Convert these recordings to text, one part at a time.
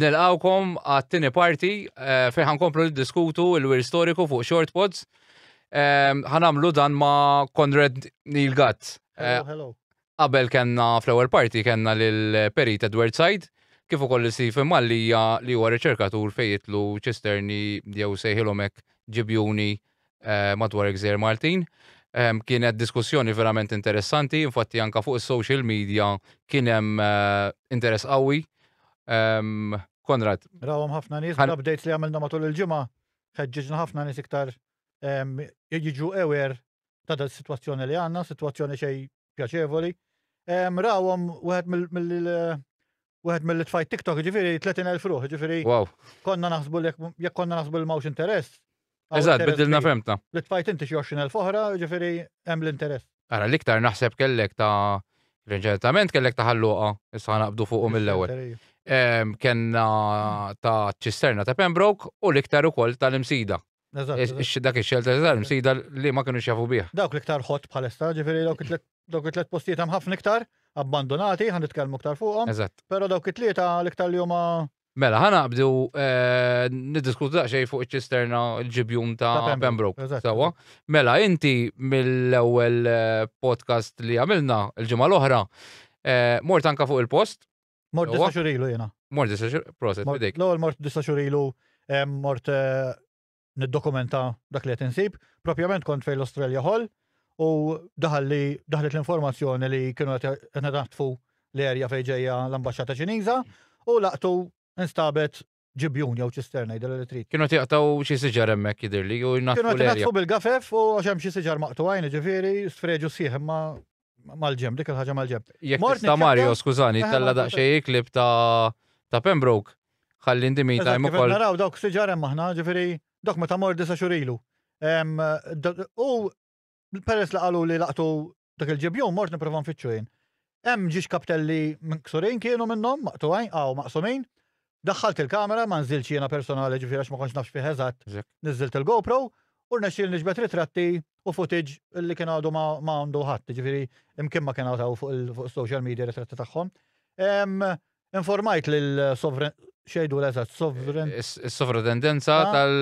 Nilqawkom għat-tieni parti eh, fejn ħankomplu niddiskutu l-wir storiku fuq short pods. Ehm, ħanamlu dan ma' Konrad Neil Gatt. Eh, qabel kenna fl-ewwel parti kenna lil Perit Edward Said kif ukoll Stephen Mallija li huwa riċerkatur fejn jitlu ċisterni jew sejħilhom hekk ġibjuni madwar il-Gżejjer Maltin. Kienet diskussjoni verament interessanti, infatti anke fuq is-social media kien hemm interess qawwi. Konrad. Rawhom ħafna nies, bl-updates li għamilna matul il-ġimgħa, ħeġġiġna ħafna nies iktar jiġu aware ta' din is-sitwazzjoni li għandna, sitwazzjoni xejn pjaċevoli. Rawhom wieħed mill Wieħed mill tfajt TikTok ġifieri 30,000 ruħ, ġifieri. Wow. Konna naħsbu li jekk konna naħsbu li mawx interess. Eżatt, bidilna femta. Li tfajt inti xi 20,000 oħra, ġifieri hemm l-interess. Ara l-iktar naħseb kellek ta' reġentament kellek ta' ħalluqa, issa naqbdu fuqu mill-ewwel. Kenna ta' ċisterna ta' Pembroke u l-iktar ukoll tal-imsida Dak ix-xelter tal-msida li ma kienu xafu bih. Dawk li ktar ħott bħalissa, ġifiri dawk Dawk it-tliet postijiet hemm ħafna iktar abbandonati, ħan nitkellmu iktar fuqhom. Eżatt. Però dawk it-tlieta l-iktar li huma Mela, ħana qabdu eh, niddiskutu daqsxejn fuq iċ-ċisterna l-ġibjun ta' Ta' Pembroke, Pembroke. eżatt. Sawa. Mela, inti mill-ewwel eh, podcast li għamilna l-ġimgħa l-oħra, eh, mort anka fuq il-post, mort Huwa? disa' xurilu jiena. mort disa xur, proset, Mort- bidejk. L-ewwel mort disa' xurilu, em, mort eh, niddokumenta dak li qed insib. Propjament kont fejn l-Australia Hall u daħal li daħlet l-informazzjoni li kienu qed naħtfu l-erja fejn ġejja l-ambaxxata Ċiniża u laqtu instabet ġibjun jew ċisterna jidher li trid. Kienu tiqtaw xi siġar hemmhekk jidhirli u jnaħtfu. Kienu qed bil-gafef u għax hemm xi siġar maqtuwajn ġifieri sfreġu sħiħ imma mal-ġemb, dik il-ħaġa mal-ġemb. Jekk tista' Mario, skużani, tella daqsxejn klib ta' ta' Pembroke, ħalli ndi me time ukoll. Naraw dawk siġar hemm aħna, ġifieri dok meta mor disa xurilu. U peress li qalu li laqtu dak il-ġibjun mort nipprova nfittxu jien. Hemm ġiex kaptelli minn ksurin kienu minnhom maqtuwajn, għaw maqsumin, Daħħalt il-kamera, ma nżiltx jiena personali ġifieri għax ma kontx naf x'fih eżatt, niżżilt il-GoPro u rnexxieli niġbed ritratti u footage li kien għadu ma għandu ħadd, jiġifieri imkien ma kien hawn hawn fuq is-social media ritratti tagħhom. Informajt lill-Sovrin, x'jgħidulha eżatt, Sovrin? Is-Sovratendenza tal.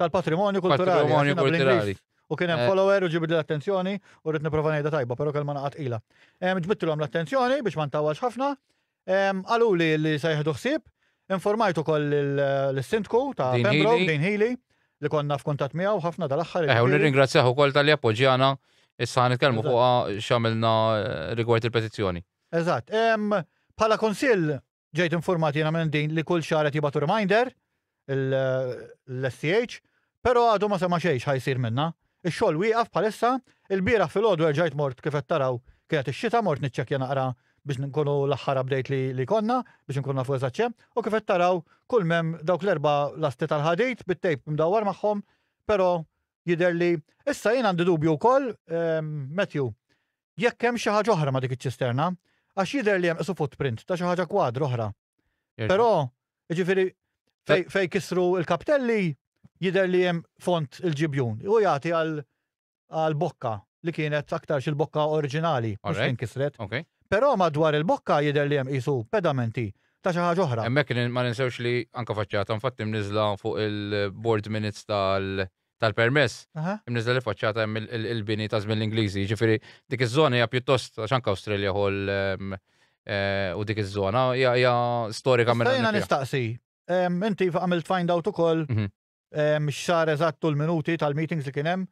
Tal-Patrimonju Kulturali. Tal-Patrimonju Kulturali. U kien hemm follower u ġibidli l-attenzjoni u rrid nipprova ngħidha tajba, però kelma naqgħa tqila. Ġbidtilhom l-attenzjoni biex ma ntawwalx ħafna, Qaluli li se jieħdu ħsieb, informajt ukoll lis-Sindku ta' Pembroke, Dean Healy, li konna f'kuntatt miegħu ħafna dal-aħħar. Eħe, u nirringrazzjah ukoll talli appoġġjana, issa ħa nitkellmu fuqha x'għamilna rigward il-petizzjoni. Eżatt. Bħala Kunsill ġejt infurmat jiena minn Dean li kull xahar qed jibgħatu reminder l-SCH, pero għadu ma sema xejn x'ħa jsir minnha. Ix-xogħol wieqaf bħalissa, ilbieraħ filgħodu erġajt mort kif qed taraw kienet ix-xita mort niċċekkja naqra biex nkunu l-aħħar update li konna biex inkunu nafu eżatt x'hemm u kif qed taraw kull m'hemm dawk l-erba' lasti tal-ħadid bit-tejp imdawwar magħhom pero jidher li issa jien għandi dubju wkoll Matthew jekk hemm xi ħaġa oħra ma' dik iċ-ċisterna għax jidher li hemm qisu footprint ta' xi ħaġa kwadra oħra. Però, jiġifieri fej kisru l-kaptelli jidher li hemm font il-ġibjun. U jagħti għal bokka li kienet aktar il-bokka oriġinali mhux fejn kisret. Però madwar il-bokka jidher li hemm qisu pedamenti ta' xi ħaġa oħra. Hemmhekk ma ninsewx li anke faċċata infatti mniżżla fuq il-board minutes tal-permess, imniżżla li faċċata hemm il-bini ta' żmien l-Ingliżi. Jiġifieri dik iż-żona hija pjuttost għax anke Australia Hall u dik iż-żona hija storika minn. Jiena nistaqsi, inti għamilt find out ukoll x'sar eżatt u l-minuti tal-meetings li kien hemm.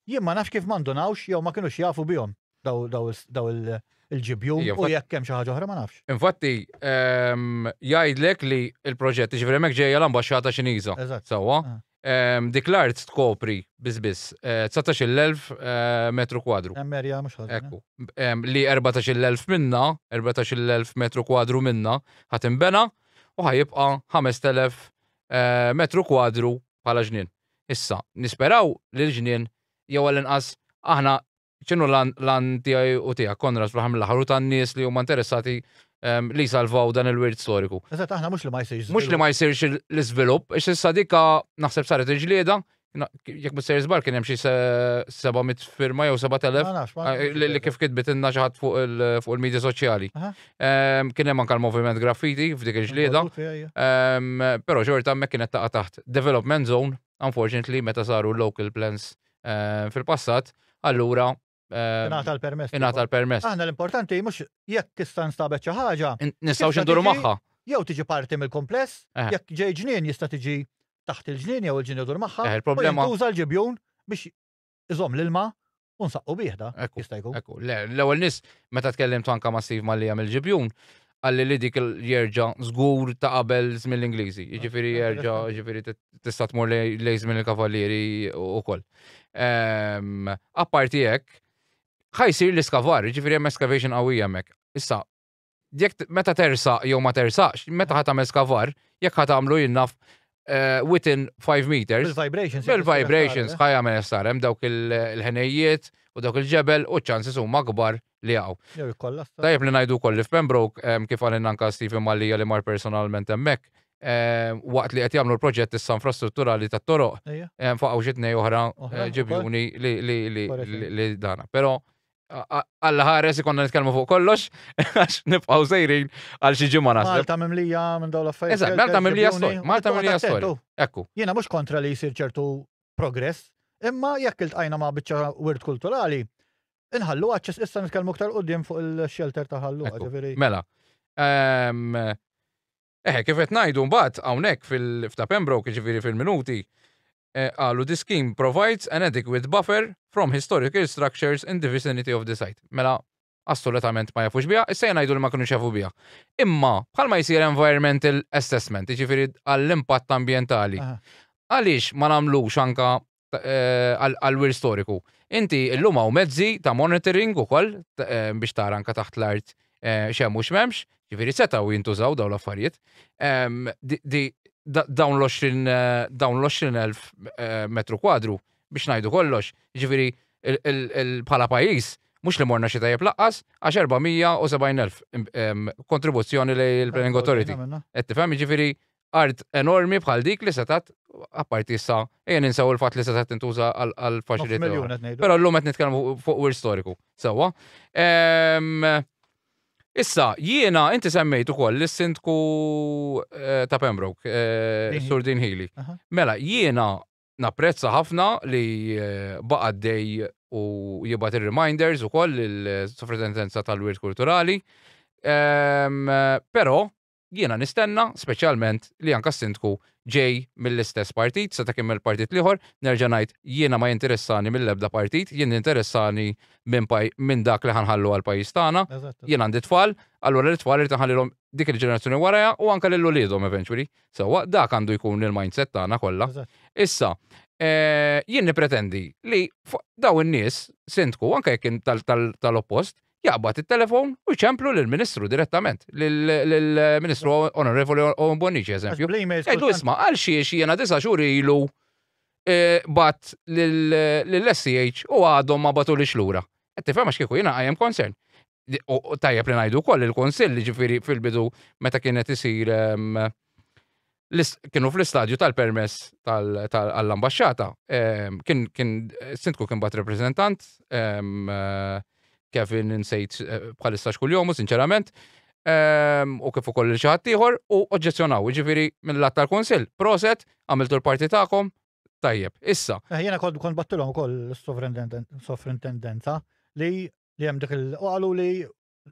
Jien ma nafx kif ma ndunawx jew ma kinux jafu bihom. daw il-ġibjun Ija, u infatti- jekk hemm xi ħaġa oħra ma nafx. Infatti, ehm, jgħidlek li l-proġett, ġifieri hemmhekk ġejja l-ambaxxata Ċiniża. Eżatt. Sewwa. Ah. Ehm, Dik l-art tkopri biss biss eh, 19,000 eh, metru kwadru. Hemm erja mhux ħażin. Ekku. Em, Li 14,000 minna, 14,000 metru kwadru minna, ħat imbena u ħajibqa 5,000 eh, metru kwadru bħala ġnien. Issa, nisperaw li l-ġnien jew għall-inqas aħna X'inhu l-għan tiegħi u tiegħek, Konrad, fl-aħħar mill-aħħar u tan-nies li huma interessati ehm, li jsalvaw dan il-wirt storiku? Eżatt, aħna mhux li ma jsirx. Mhux li ma jsirx l-iżvilupp, ix issa dika naħseb saret il-ġlieda, jekk ma sejr żbar kien hemm xi 700 firma jew 7000 li kif kitbit inna xi ħadd fuq il-medja soċjali. Ehm, kien hemm anke l-moviment graffiti f'dik il-ġlieda. Ehm, però xorta hemmhekk kienet taqa' taħt development zone, unfortunately meta saru local plans eh, fil-passat, allura eh, Ingħata l-permess. ingħata l-permess. Aħna l-importanti mhux jekk tista' nstabet xi ħaġa, In- Nistgħu Tista' xinduru tiġi- magħha. jew tiġi parti mill-kumpless, Eh. jekk ġej ġnien jista' tiġi taħt il-ġnien jew il-ġenitur magħha, Eh, u il-problema- jintuża l-ġibjun biex iżomm l-ilma u nsaqqu bieħda. Ekku, Jista' jkun. Ekku, le, l-ewwel nis meta tkellimt anka ma' Steve Mallia mill-ġibjun, għalli li dik jerġa' żgur ta' qabel żmien l-Ingliżi. Jiġifieri ah, jerġa' jiġifieri tista' tmur lejn żmien il-Kavallieri ukoll. Ehm, apparti hekk, ħajsir l-iskavar, jiġifieri hemm excavation qawwija hemmhekk. Issa, jekk meta tersaq jew ma tersaqx, meta ħadd tagħmel skavar, jekk ħadd tagħmlu jinnaf eh, within 5 meters. Bil-vibrations. Bil-vibrations, ħajja me jessar, hemm dawk il-ħenejjiet u dawk il-ġebel u ċansi huma kbar li jaqgħu. Jew jikkollassa. Tajjeb li ngħidu wkoll li f'Pembroke, kif qalilna anke Stephen Mallia li mar personalment hemmhekk, waqt li qed jagħmlu l-proġett issa infrastrutturali tat-toroq, faqgħu xi tnej oħra ġibjuni li dana. Però Alla ħares ikollna nitkellmu fuq kollox għax nibqgħu sejrin għal xi ġimgħa naħseb. Malta mimlija minn dawn l-affarijiet. Eżatt, Malta mimlija storja. Malta mimlija storja. Ekku. Jiena mhux kontra li jsir ċertu progress, imma jekk iltqajna ma' biċċa wirt kulturali, Inħallu għadċis issa nitkellmu ktar qudiem fuq il-shelter ta' ħallu ġifieri. Mela. Ehm, eħe, kif qed ngħidu mbagħad hawnhekk fil-fta Pembroke ġifieri fil-minuti eh, qalu the scheme provides an adequate buffer from historical structures in the vicinity of the site. Mela, assolutament ma jafux biha, issa jgħidu li ma kienu xafu biha. Imma, bħalma jisir environmental assessment, ġifiri għall-impatt ambientali, għaliex ma namlux anka għall-wirt storiku. Inti illum hawn mezzi ta' monitoring ukoll biex tara anke taħt l-art x'hemm u x'm'hemmx, ġifieri setgħu jintużaw dawn l-affarijiet. Dawn l-20,000 metru kwadru biex ngħidu kollox, ġifieri bħala pajjiż mhux li morna xi tajjeb lanqas għax 470,000 kontribuzzjoni lejn il-Planning Authority. Qed tifhem? Jiġifieri art enormi bħal dik li setgħet apparti issa ejja ninsaw il-fatt li setgħet tintuża għal faċilità. Però llum qed nitkellmu fuq wir storiku. Sewwa. Ehm, issa, jiena inti semmejt ukoll lis-sindku eh, ta' Pembroke, eh, Sur Din Healy. Mela, jiena napprezza ħafna li eh, baqa' dej u jibgħat ir-reminders ukoll il-Sofritendenza tal-Wirt Kulturali. Ehm, però Jiena nistenna, speċjalment, li anke s-Sindku ġej mill-istess partit, seta' kien mill-partit l-ieħor, nerġa' ngħid, jiena ma jinteressani mill-ebda partit, jien jinteressani minn minn dak li ħa nħallu għall-pajjiż tagħna. Jien għandi tfal, allura lit-tfal irrid inħallilhom dik il-ġenerazzjoni warajha u anke lil uliedhom eventually. Sewwa, dak għandu jkun il-mindset tagħna kollha. Issa, jien nippretendi li dawn in-nies, Sindku, anke jekk kien tal-oppost, jaqbad it-telefon u jċemplu lill-Ministru direttament, lill-Ministru Onorevoli Owen Bonnici, eżempju. Ejdu isma, għal xiex jena disa xuri ilu eh, bat lill-SCH u għadhom ma batu li xlura. Għetti fema xkieku jena għajem concern. Tajjeb li najdu koll il-konsill ġifiri fil-bidu meta kienet isir ehm, kienu fl-istadju tal-permess tal-ambasċata. Ehm, kien, kien, sintku kien bat reprezentant, ehm, eh, Kevin nsejt eh, bħalissa xkull jomu, sinċerament, ehm, u kif ukoll il-ċaħat tiħor, u oġġezzjonaw, ġifiri mill-lat tal-konsil, proset, għamiltu l-parti ta'kom, tajjeb, issa. Eh, jena kont kont battilom ukoll s-sovrintendenza li li hemm dik il-qalu li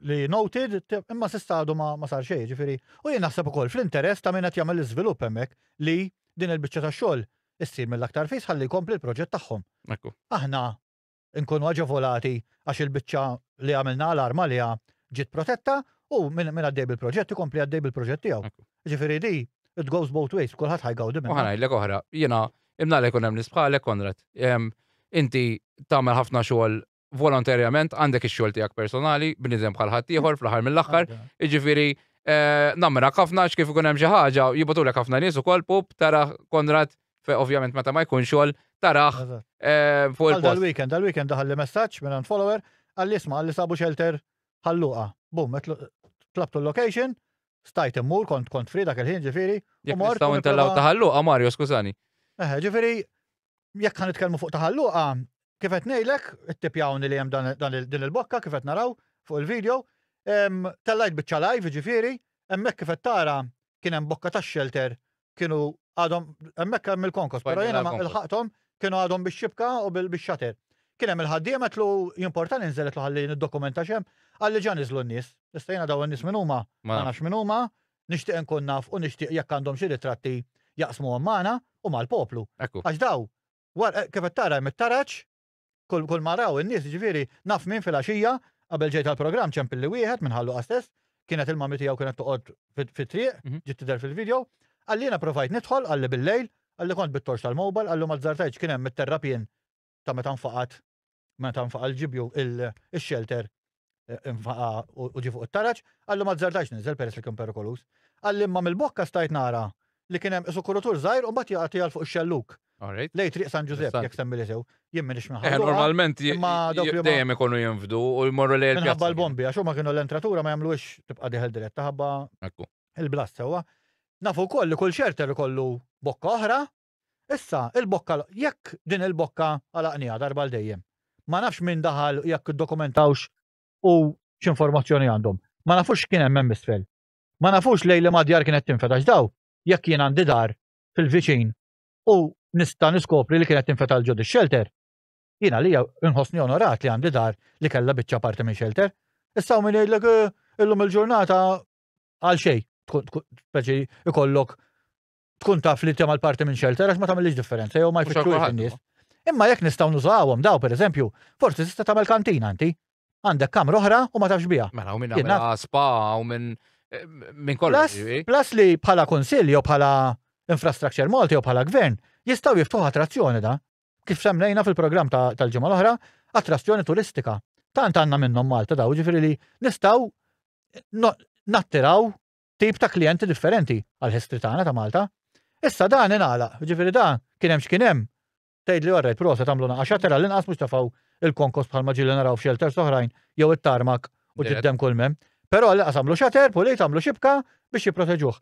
li noted, imma sista għadu ma sar xejn, ġifiri. U jien naħseb ukoll fl-interess ta' min qed jagħmel l-iżvilupp hemmhekk li din il-biċċa ta' xogħol issir mill-aktar fis ħalli jkompli l-proġett tagħhom. Aħna nkunu aġevolati għax il-biċċa li għamilna alarm għaliha ġiet protetta u min għaddej bil-proġett ikompli għaddej bil-proġett tiegħu. Ġifiri di, it goes both ways, kulħadd ħajgawdi minn. Ħanajlek oħra, jiena imnalek unem nisbħalek Konrad. Inti tagħmel ħafna xogħol volontarjament għandek ix-xogħol tiegħek personali, bniedem bħal ħaddieħor fl-aħħar mill-aħħar, jiġifieri eh, nammirak ħafna x'kif ikun hemm xi ħaġa jibgħatulek ħafna nies ukoll pup tara Konrad fe ovvjament meta ma jkun xogħol taraħ Eżatt. eh, fuq Għal il-post. dal-weekend, dal-weekend daħal li messaġġ minn għand follower, għalli isma' għalli sabu shelter ħalluqa. Bum, etlu- tlabtu l-location, stajt immur, kont kont fri dak il-ħin ġifieri. Jekk mort nistgħu u ntellgħu nipprova- taħallu, Mario, skużani. Eħe, ġifieri Jekk ħa nitkellmu fuq Taħal Luqa, kif qed ngħidlek, ittipjawni li hemm din il-bokka kif qed naraw fuq il-video. Tellajt biċċa live jiġifieri, hemmhekk kif qed tara kien hemm bokka ta' shelter kienu għadhom hemmhekk hemm il-konkos, però jiena ma ilħaqthom kienu għadhom bix-xibka u bix-shutter. Kien hemm il-ħaddiem għedtlu jimporta ninżel għedtlu ħalli niddokumenta x'hemm, qalli ġa niżlu n-nies. Issa jiena dawn in-nies min huma, ma nafx min huma, Nixtieq inkun naf u nixtieq jekk għandhom xi ritratti jaqsmuhom magħna u mal-poplu. Ekku. Għax daw, war, kif qed tara hemm it-taraġ, kull, kull ma raw in-nies, jiġifieri, naf min filgħaxija, qabel ġejt għall-programm ċempilli wieħed minn Ħal Luqa stess, kienet il-mommy tiegħu kienet toqgħod fit, fit-triq, Mhm. ġiet tidher fil-video, qalli jiena provajt nidħol, qalli bil-lejl, qalli kont bit-torċ tal-mobile, qallu m'azzartajtx kien hemm it-terrapien ta' meta nfaqat meta nfaqa l-ġibju il-xelter nfaqa u ġi fuq it-taraġ, għallu ma żardax niżel peress li kien perikolus. Għalli imma mill-bokka stajt nara li kien hemm isu kurutur żgħir u mbagħad jaqgħet jgħal fuq ix-xelluk. Lej triq San Ġużepp jekk semmi li sew, jien m'iniex minn ħadd. Normalment dejjem ikunu jinfdu u jmorru lejn. Minħabba l-bombi għax huma kienu l-entratura ma jagħmluhiex tibqa' dieħel diretta ħabba il-blast sewwa. Nafu wkoll li kull xelter ikollu bokka oħra Issa, il-bokka, jekk din il-bokka għalaqniha darba għal dejjem. Ma nafx min daħal u jekk iddokumentawx u x'informazzjoni għandhom. Ma nafux x'kien hemm hemm isfel. Ma nafux lejn liema djar kienet tinfed għax daw, jekk jien għandi dar fil-viċin u nista' niskopri li kienet tinfed għal ġod ix-xelter, jien għalija nħossni onorat li għandi dar li kellha biċċa parti minn xelter. Issa hawn min jgħidlek illum il-ġurnata għal xejn tkun speċi ikollok tkun taf li tema l-parti minn xelter għax ma tagħmilx differenza jew ma jfittxux in-nies. Imma jekk nistgħu nużawhom daw pereżempju, forsi tista' tagħmel kantina inti. Għandek kamra oħra u ma tafx biha. Mela u minn għamilha spa u minn eh, minn kollox. Plus li bħala kunsill jew bħala infrastructure Malti jew bħala gvern jistgħu jiftuħ attrazzjoni da. Kif semmejna fil-programm tal-ġimgħa l-oħra, attrazzjoni turistika. Tant għandna minnhom Malta daw, ġifieri li nistgħu nattiraw tip ta' klijenti differenti għal history tagħna ta' Malta. Issa dan ingħalaq, ġifieri dan kien hemm x'kien hemm. Tgħidli orrejt prosa tagħmlu naqa' xatter għall-inqas mhux tafgħu il-konkos bħal ma ġieli naraw f'xelters oħrajn jew it-tarmak u ġiddem kull mem. Però għall-inqas għamlu xater, pulit, għamlu xibka biex jipproteġuh.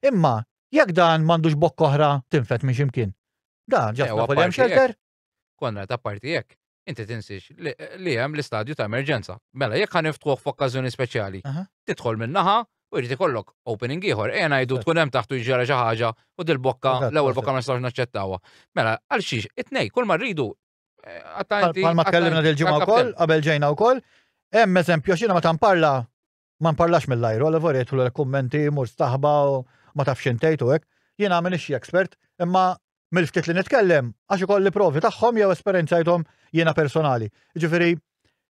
Imma jekk dan m'għandux bokk oħra tinfed minn xi mkien. Dan ġas nafu li hemm xelter. Konrad, apparti hekk, inti tinsiex li hemm l-istadju ta' emerġenza. Mela, jekk ħan niftħuh f'okkażjoni speċjali, tidħol min-naħa u jrid ikollok opening ieħor, ejja ngħidu tkun hemm taħtu jiġġara xi ħaġa u dil-bokka l-ewwel bokka ma nistgħux naċċettawha. Mela, għal xiex, it-tnej, kull ma rridu. Palma eh, tkellimna dil-ġimgħa wkoll, qabel ġejna wkoll, hemm eżempju xina ma tamparla Ma nparlax mill-ajru, għal vorejt l kummenti mur staħba u ma tafx intejtu hekk. Jien għamil ixxi expert, imma mill-ftit li nitkellem għax ikolli provi tagħhom jew esperjenzajthom jiena personali. Ġifieri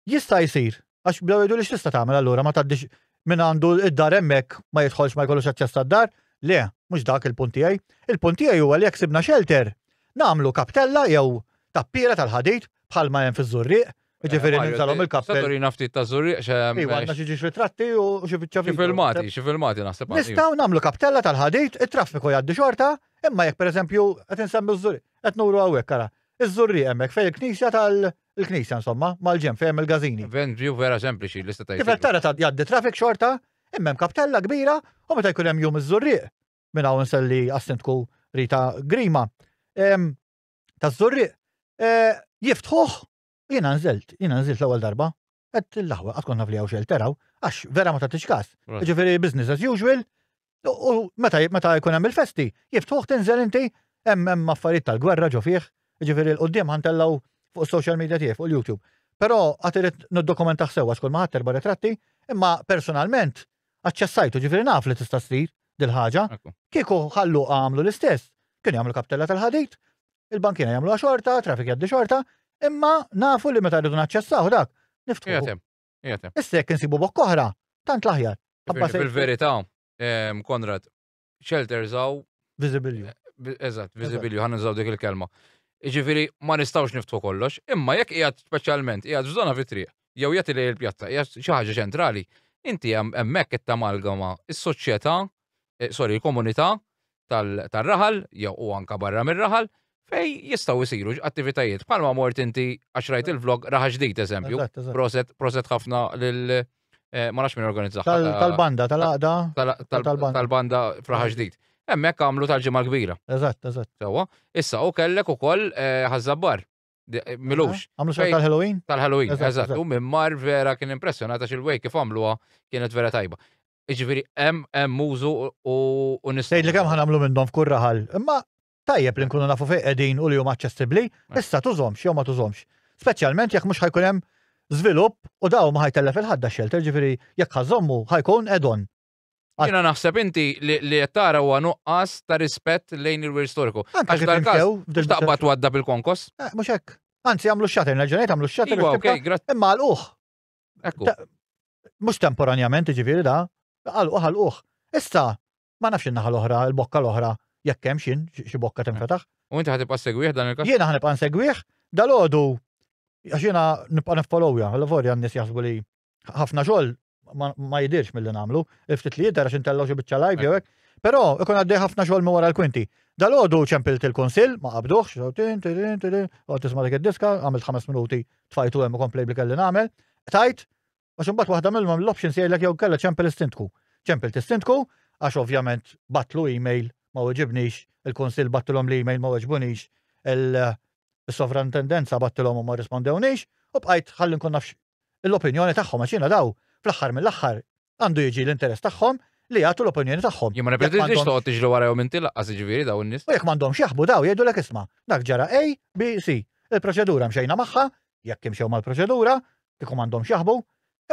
jista' jsir għax bdew jgħidu li x'tista' tagħmel allura ma tgħaddix minn għandu id-dar hemmhekk ma jidħolx ma jkollux aċċess għad-dar. Le, mhux dak il-punt tiegħi. Il-punt tiegħi huwa li jekk sibna xelter, nagħmlu kaptella jew tappiera tal-ħadid bħalma hemm fiż-żurrieq Ġifiri eh, ninżalhom il-kappell. Saturina ftit ta' zurriq xe. Iwa għandna xi ġiex ritratti u xi biċċa Xi filmati, xi filmati naħseb. Nistgħu nagħmlu kappella tal-ħadid, it-traffiku jgħaddi xorta, imma jekk pereżempju qed insemmu ż-zurriq, qed nuru hawnhekk ara. Iż-żurriq hemmhekk fejn il-knisja tal- il-knisja insomma, mal-ġem fejn il-gazini. Ven view vera sempliċi li seta' Kif qed tara ta' jgħaddi traffic xorta, immem kaptella kbira u meta jkun hemm jum iż-żurrieq minn hawn nselli assintku Rita Grima. taż-Żurrieq eh, jiftħuh jiena nżilt, jiena nżilt l-ewwel darba. Qed l-aħwa qatt kont naf li hawn xejn teraw għax vera ma tagħtix każ. Ġifieri business as usual u meta meta jkun hemm il-festi jiftħuh tinżel inti hemm hemm affarijiet tal-gwerra ġo fih, ġifieri l-qudiem ħantellgħu fuq social media tiegħi fuq il-YouTube. Però għad irid niddokumentaħ sewwa xkol ma ħadd erba' ritratti, imma personalment Aċċessajtu, ġifieri naf li tista' ssir dil-ħaġa. Kieku ħalluha għamlu l-istess, kienu jagħmlu kaptella tal-ħadid, il-bankiera jagħmluha xorta, traffic jgħaddi xorta, imma nafu li meta rridu naċċessaw dak, niftħuh. Issa jekk insibu bokk oħra, tant l-aħjar. Fil-verità, Konrad, shelters għaw. Vizibilju. Eh, eżatt, vizibilju, għan nżaw dik il-kelma. Ġifiri, ma nistawx niftu kollox, imma jekk jgħat specialment, jgħat f'żona fitri, jew jgħat li il-pjazza, jgħat xaħġa ċentrali, inti hemmhekk qed tamalgama is-soċjetà, eh, sorry, il-komunità tal-raħal, jew u anka barra mir-raħal, fej jistaw jisiru attivitajiet. Palma mort inti għax rajt il-vlog raħa ġdid eżempju. Proset, proset ħafna Eh, ma nafx minn organizzaħ. Tal-banda, tal-għaqda. Tal-banda fraħa ġdid. Emmek għamlu tal-ġimma kbira. Eżatt, eżatt. Sawa, issa u kellek u koll eh, ħazzabbar. Eh, milux. Għamlu xar tal-Halloween? Tal-Halloween, eżatt. U minn mar vera kien impressionata xil-wej kif għamluha kienet vera tajba. Iġviri, em, em mużu u nistgħu. Sejt li kemm ħanamlu minnhom f'kurraħal. Imma Tajjeb li nkunu nafu fejn qegħdin u li huma aċċessibbli, issa tużhomx jew ma tużhomx. Speċjalment jekk mhux ħajkun hemm żvilupp u daw ma ħajtellef il-ħadda shelter, ġifieri jekk ħażommu ħajkun add-on. Jiena naħseb inti li li qed tara huwa nuqqas ta' rispett lejn il-wir storiku. Anke kif inkew f'dil taqbad twadda bil-konkos? Eh, mhux hekk. Anzi jagħmlu x-xatter, nerġa' jagħmlu x-xatter. Iva, okej, grazzi. Imma għalquh. Ekku. Mhux temporanjament, ġifieri da, għalquh għalquh. Issa, Ma nafx in-naħa l-oħra, il-bokka l-oħra, jekk hemm xin, xi bokka tinfetaħ. U inti ħatibqa' segwih dan il-każ? Jiena ħanibqa' nsegwih, dalodu għax jiena nibqa' niffolowja, l-vorja n-nies jaħsbu li ħafna xogħol ma jidirx mill-li nagħmlu, il-ftit li jidher għax intellgħu xi biċċa live jew hekk, però ikun għaddej ħafna xogħol minn wara l-kwinti. Dalodu ċempilt il-kunsill, ma qabduħx, għod tisma' dik id-diska, għamilt ħames minuti tfajtu hemm u komplej li kelli nagħmel, tajt Għax imbagħad waħda minnhom l-options jgħidlek jew kellha ċempel istintku. Ċempel tistintku għax ovvjament batlu email ma weġibnix, il-Kunsill battilhom l-email ma weġbunix, il-sovrantendenza battilhom u ma rispondewnix, u bqajt ħalli nkun nafx l-opinjoni tagħhom għax jiena daw fl-aħħar mill-aħħar għandu jiġi l-interess tagħhom li jagħtu l-opinjoni tagħhom. Jien ma nipretendix toqgħod tiġri wara jew inti laqqas jiġifieri daw in-nies. U jekk m'għandhomx jaħbu daw jgħidu lek isma' dak ġara A, B, C. Il-proċedura mxejna magħha, jekk imxew mal-proċedura, kieku m'għandhomx jaħbu,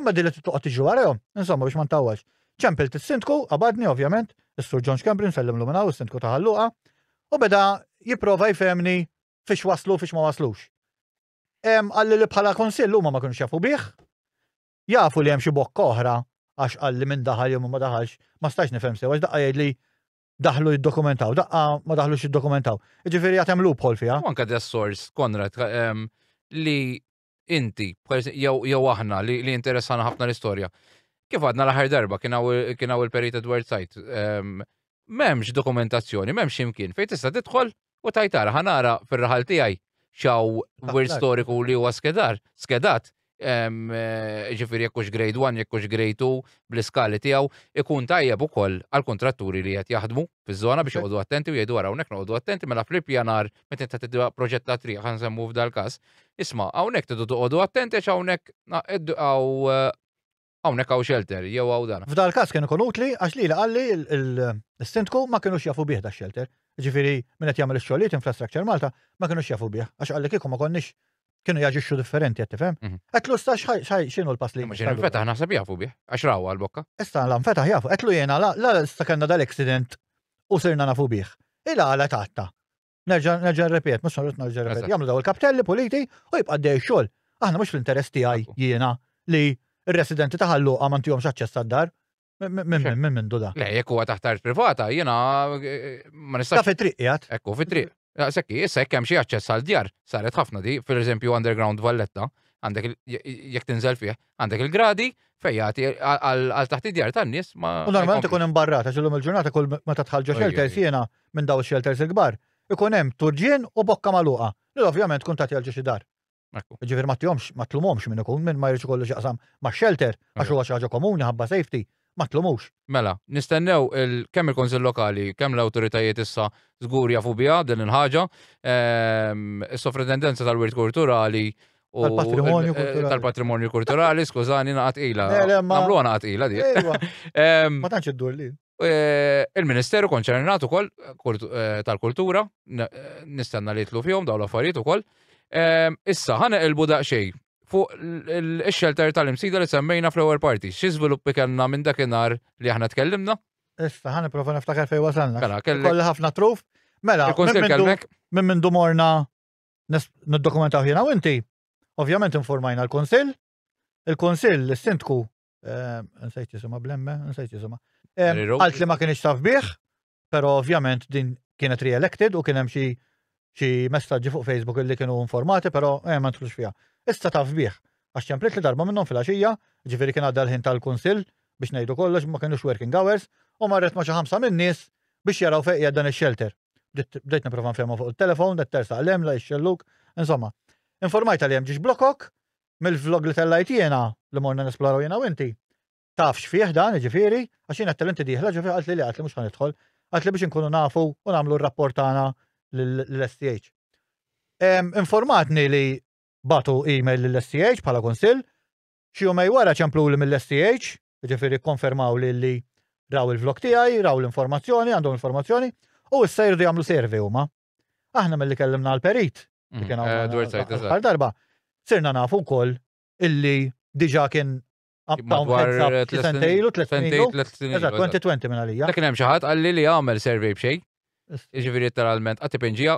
imma din li tittoqgħod tiġri warahom, insomma biex ma ntawwalx. Ċempilt is-Sindku, qabadni ovvjament, is-Sur John Schembri nsellimlu minn hawn is-Sindku ta' Ħalluqa, u beda jipprova jfehmni fiex waslu u fiex ma waslux. Qalli li bħala kunsill huma ma kinux jafu bih, jafu li hemm xi bokka oħra għax qalli minn daħal jew ma daħalx, ma stajx nifhem sew għax daqqa jgħidli daħlu jiddokumentaw, daqqa ma daħlux jiddokumentaw. Ġifieri għad hemm loophole fiha. Anke da sors Konrad ehm, li inti, jew aħna li interessana ħafna l-istorja. Kif għadna l-aħħar darba kien hawn il-Perit Edward Sajt. Ehm, m'hemmx dokumentazzjoni, m'hemmx imkien fejn tista' tidħol u tajtara ħanara fir-raħal tiegħi xaw wirt storiku li huwa skedar, skedat Eh, ġifiri jekkux grade 1, jekkux grade 2, bl-iskali tijaw, ikun tajjeb u koll għal-kontratturi li jgħat jaħdmu. fiż-żona biex joqogħdu attenti u jgħidu wara hawnhekk noqogħdu attenti mela fl-ippjanar meta inta tidwa proġett ta' triq ħan semmu f'dal każ. Isma' hawnhekk tidu toqogħdu attenti għax hawnhekk għaw hawnhekk hawn xelter jew hawn dan. F'dal każ kien ikun utli għax li qalli l-sindku ma kinux jafu bih da xelter. Ġifieri min qed jagħmel ix-xogħlijiet Infrastructure Malta ma kinux jafu bih għax qalli kieku ma konniex kienu jaġixxu differenti, qed tifhem? Mhm. Qedlu sta x'inhu l-pass li. X'inhu l-fetaħ naħseb jafu bih, għax raw għal-bokka. Issa la fetaħ jafu, qedlu jiena la la sta kellna dal-accident u sirna nafu bih. Ila għala tatta. Nerġa' nerġa' rrepet, mhux rrid nerġa' rrepet. Jagħmlu daw il-kaptelli puliti u jibqa' dej xogħol. Aħna mhux fl-interess tiegħi jiena li r-residenti ta' ħalluqa ma ntihomx aċċess għad-dar. Minn minn duda. Le, jekk huwa taħt art privata, jiena eh, ma nistax. Ta' fit-triq jgħat. Ekku, fit-triq. Sekki, issa jekk hemm xi aċċess għal djar, saret ħafna di, per eżempju underground Valletta, għandek jekk tinżel fih, għandek il-gradi fejjati għal taħt id-djar tan-nies ma. U normalment ikun hemm barrata, xillum il-ġurnata kull meta tħallġa xelters jiena minn daw ix-xelters il-kbar, ikun hemm turġien u bokka magħluqa, li ovvjament tkun tagħti għal xi dar. Ġifieri ma tihomx ma tlumhomx minn ikun minn ma jridx ikollu x'jaqsam ma' shelter għax huwa xi ħaġa komuni ħabba safety ma tlumux. Mela, nistennew kemm il-Kunsill Lokali, kemm l-awtoritajiet issa żgur jafu biha din il-ħaġa, is-Sovrintendenza tal-Wirt Kulturali u tal-Patrimonju Kulturali. Tal-Patrimonju Kulturali, skużani, naqgħa tqila. Nagħmluha naqgħa tqila dik. Ma tantx iddur lil. Eh, il-Ministeru konċernat ukoll eh, tal-kultura, eh, nistenna li jitlu fihom dawn l-affarijiet ukoll. Ehm, issa, ħana il buda xej fuq il-xelter tal-imsida li semmejna fl-ewwel parti. Xi żviluppi kellna minn dakinhar li aħna tkellimna? Issa, ħana prova niftakar fejn wasalna. Mela, kelli ħafna truf. Mela, minn minn dumorna niddokumentaw ħina u inti. Ovvjament informajna l-Konsil, il-Konsil, il-Sindku, eh, nsejt jisima blemme, nsejt jisima. Eh, għalt li ma kienx taf bih, pero ovvjament din kienet re-elected u kienem xi xi messaġġi fuq Facebook li kienu informati, pero eh, ma ntlux fija. Issa taf bih, għax ċemplit li darba minnhom fil-għaxija, ġifieri kien għadda l-ħin tal-kunsill biex ngħidu kollox ma kienux working hours, u marret ma xi ħamsa min-nies biex jaraw fejn dan ix-shelter. Bdejt niprofa nfehmu fuq il-telefon, dat tersa għalem, la jxelluk, insomma. Informajta li hemm ġiex blokok, mill-vlog li tellajt jiena li morna nesploraw jiena u inti. Taf x'fih dan, jiġifieri, għax jiena tellinti dieħla ġifieri qalt li li qalt li mhux ħa nidħol. Qalt li biex inkunu nafu u nagħmlu r-rapport tagħna lill-STH. Informatni li batu email lill-STH bħala kunsill, xi jumej wara ċemplu li mill-STH, jiġifieri konfermaw li li raw il-vlog tiegħi, raw l-informazzjoni, għandhom informazzjoni, u issa jirdu jagħmlu survey huma. Aħna mill-li kellimna għal-perit, li mm, kien eh, għal darba, sirna nafu wkoll illi diġa kien Madwar sentejlu, tlet sentejlu. Eżat, 2020 minn għalija. Dak hemm xi ħadd qalli li għamel survey b'xejn. Iġifieri literalment qatt ipinġija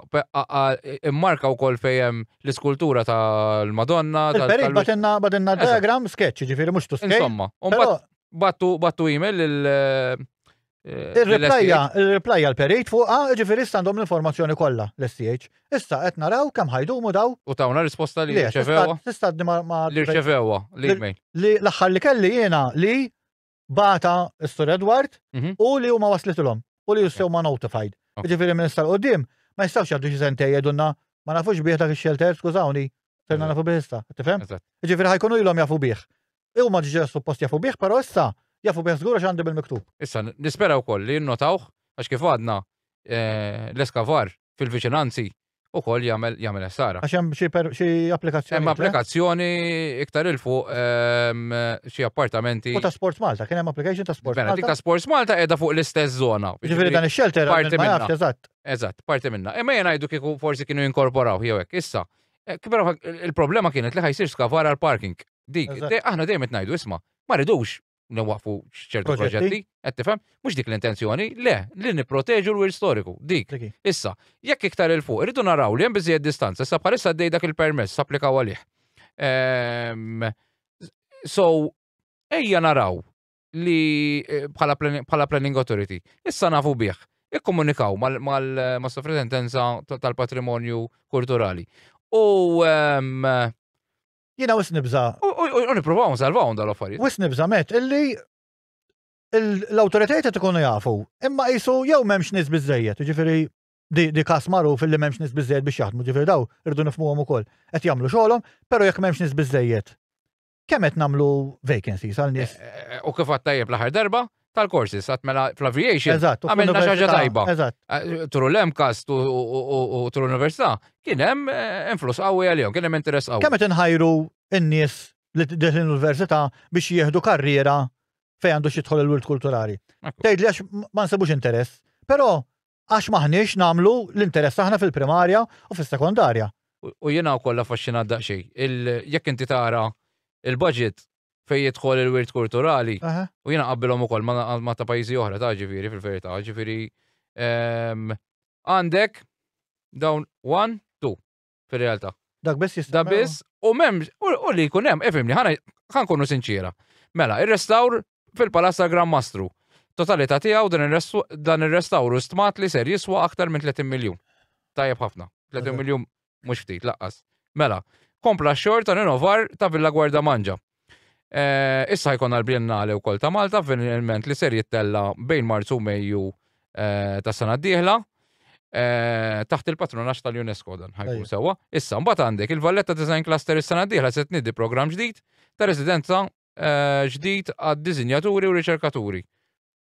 immarka wkoll fejn l-iskultura tal-Madonna. Il-perit batenna batenna diagram sketch, ġifieri mhux tu sketch. Insomma, battu battu email lil eh, Eh, Il-replajja l-perejt fuqa, ġifiri għandhom l-informazzjoni kollha l-STH. Issa qed naraw kemm ħajdumu daw. U tawna risposta li rċevewa. Tista' ma li rċevewa l-email. Li l-aħħar li kelli jiena li bata s-Sur Edward mhm. u li huma waslitilhom u li jissew ma notified. Ġifiri minn istar qudiem ma jistgħux jgħaddu xi sentej jedunna ma nafux bih dak ix-xelter skużawni. Serna nafu bih issa, tifhem? Ġifiri ħajkunu ilhom jafu bih. E huma ġġera suppost jafu bih, però issa jafu bih żgur għax għandhom il-miktub. Issa, nispera wkoll li jinnotawh għax kif għadna eh, l-eskavar fil-viċinanzi wkoll jagħmel jagħmel essara. Għax hemm xi per- xi applikazzjoni. Hemm applikazzjoni iktar il fuq ehm, xi appartamenti. U ta' Sports Malta, kien hemm application ta' Sports Mela, dik Malta. ta' Sports Malta qiegħda fuq l-istess zona. Ġifieri dan ix-shelter parti ma minna. jafx eżatt. Eżatt, parti minna. Imma jien ngħidu kieku forsi kienu jinkorporaw jew hekk. Issa, Eh, Kibra il-problema kienet li ħajsir skavar għal parking. Dik, Eżatt. de- aħna dejjem qed ngħidu isma' ma ridux nwaqfu ċertu Proġetti. proġetti, qed tifhem? Mhux dik l-intenzjoni, le, li nipproteġu l-wir storiku. Dik. Dik hi. Issa, jekk iktar il fuq, irridu naraw li hemm biżejjed distanza, issa bħalissa għaddej dak il-permess applikaw għalih. Ehm, So, ejja naraw li eh, bħala planning authority. Issa nafu bih. Ikkomunikaw mal-sofretendenza tal-patrimonju kulturali. U ehm, jina wis nibza. U niprofaw nsalvaw dal-affarijiet. Wis nibza met illi l-autoritajiet qed ikunu jafu, imma qisu jew m'hemmx nies biżejjed, ġifieri di kas magħruf illi m'hemmx nies biżejjed biex jaħdmu, ġifieri daw irdu nifmuhom ukoll. Qed jagħmlu xogħolhom, però jekk m'hemmx nies biżejjed kemm qed nagħmlu vacancies għal nies. Eh, eh, u kif għattajjeb l-aħħar darba, tal-courses, għat mela fl-aviation. Eżatt, għamilna xaġa tajba. Eżatt. Eh, Tru l-MCAS u tru l-Università, kien hemm eh, influss qawwi għalihom, kien hemm interess qawwi. Kemm qed inħajru n-nies li deħlin l-Università biex jieħdu karriera fejn għandu xi jidħol il-wirt kulturali. Tgħid li għax ma nsebux interess, però Għax m'aħniex nagħmlu l-interess aħna fil-primarja u fis-sekondarja. U jiena wkoll affaxxinat daqsxejn. Jekk inti tara l-budget fejn jidħol il-wirt kulturali, u jiena nqabbilhom ukoll ma' ta' pajjiżi oħra ta' ġifieri fil-verità, ġifieri għandek dawn one, two. fir-realtà. Dak biss jista' Da biss, u mem, u li jkun hemm, ifimni, ħana ħankunu sinċiera. Mela, ir-restawr fil-Palazz tal-Gran Mastru. Totalità tiegħu dan ir-restawr u stmat li ser jiswa aktar minn 30 miljun. Tajjeb ħafna. 30 miljun mhux ftit laqqas. Mela, kompla xogħol ta' rinovar ta' Villa Gwarda Manġa. Issa jkollna l-Biennale wkoll ta' Malta, avveniment li ser jittella bejn Marzu u Mejju tas sena d-dieħla. Taħt il-patronax tal-UNESCO dan ħajkun sewwa. Issa, mbagħad għandek il-Valletta Design Cluster is-sena d-dieħla se tniedi programm ġdid ta' residenza ġdid għad-diżinjaturi u riċerkaturi.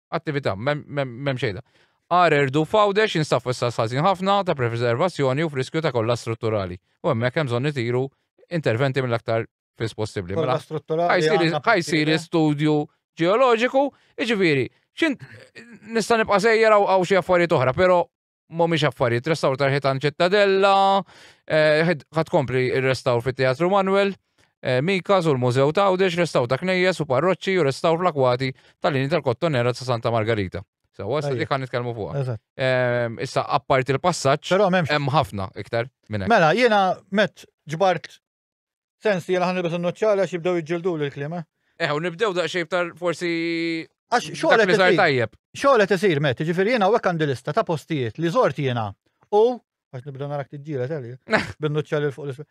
attività, mem xejda. Arer du fawdex jinsab fissa sħazin ħafna ta' preservazzjoni u friskju ta' kollha strutturali. U hemmhekk hemm bżonn itiru interventi mill-aktar fis possibbli. Kollha mela, strutturali. Ħajsir studju ġeoloġiku, iġifieri, xint nista' nibqa' sejjer għaw xi affarijiet oħra, però mhumiex affarijiet, restawr tal-ħitan ċittadella, eh, ħad kompli il-restawr fit-Teatru Manuel, eh, Mika, u l-Mużew ta' Għawdex, restawr ta' knejjes u parroċċi u restawr fl-akwati tal-lini tal-kottonera ta' Santa Margarita. So, għasta dik għan nitkellmu fuqha. Ehm, issa, apparti l-passaġġ, hemm ħafna iktar minn Mela, jiena met ġbart Sensi, jena ħan nibis n-nuċċali għax jibdew jġildu l-klima. Eh, u nibdew daqxej btar forsi. Għax xolet isir tajjeb. Xolet isir, met, ġifiri jena u għandi lista ta' postijiet li zort jena. U, għax nibdew narak t-ġila tal-li, bin-nuċċali fuq l-isfel.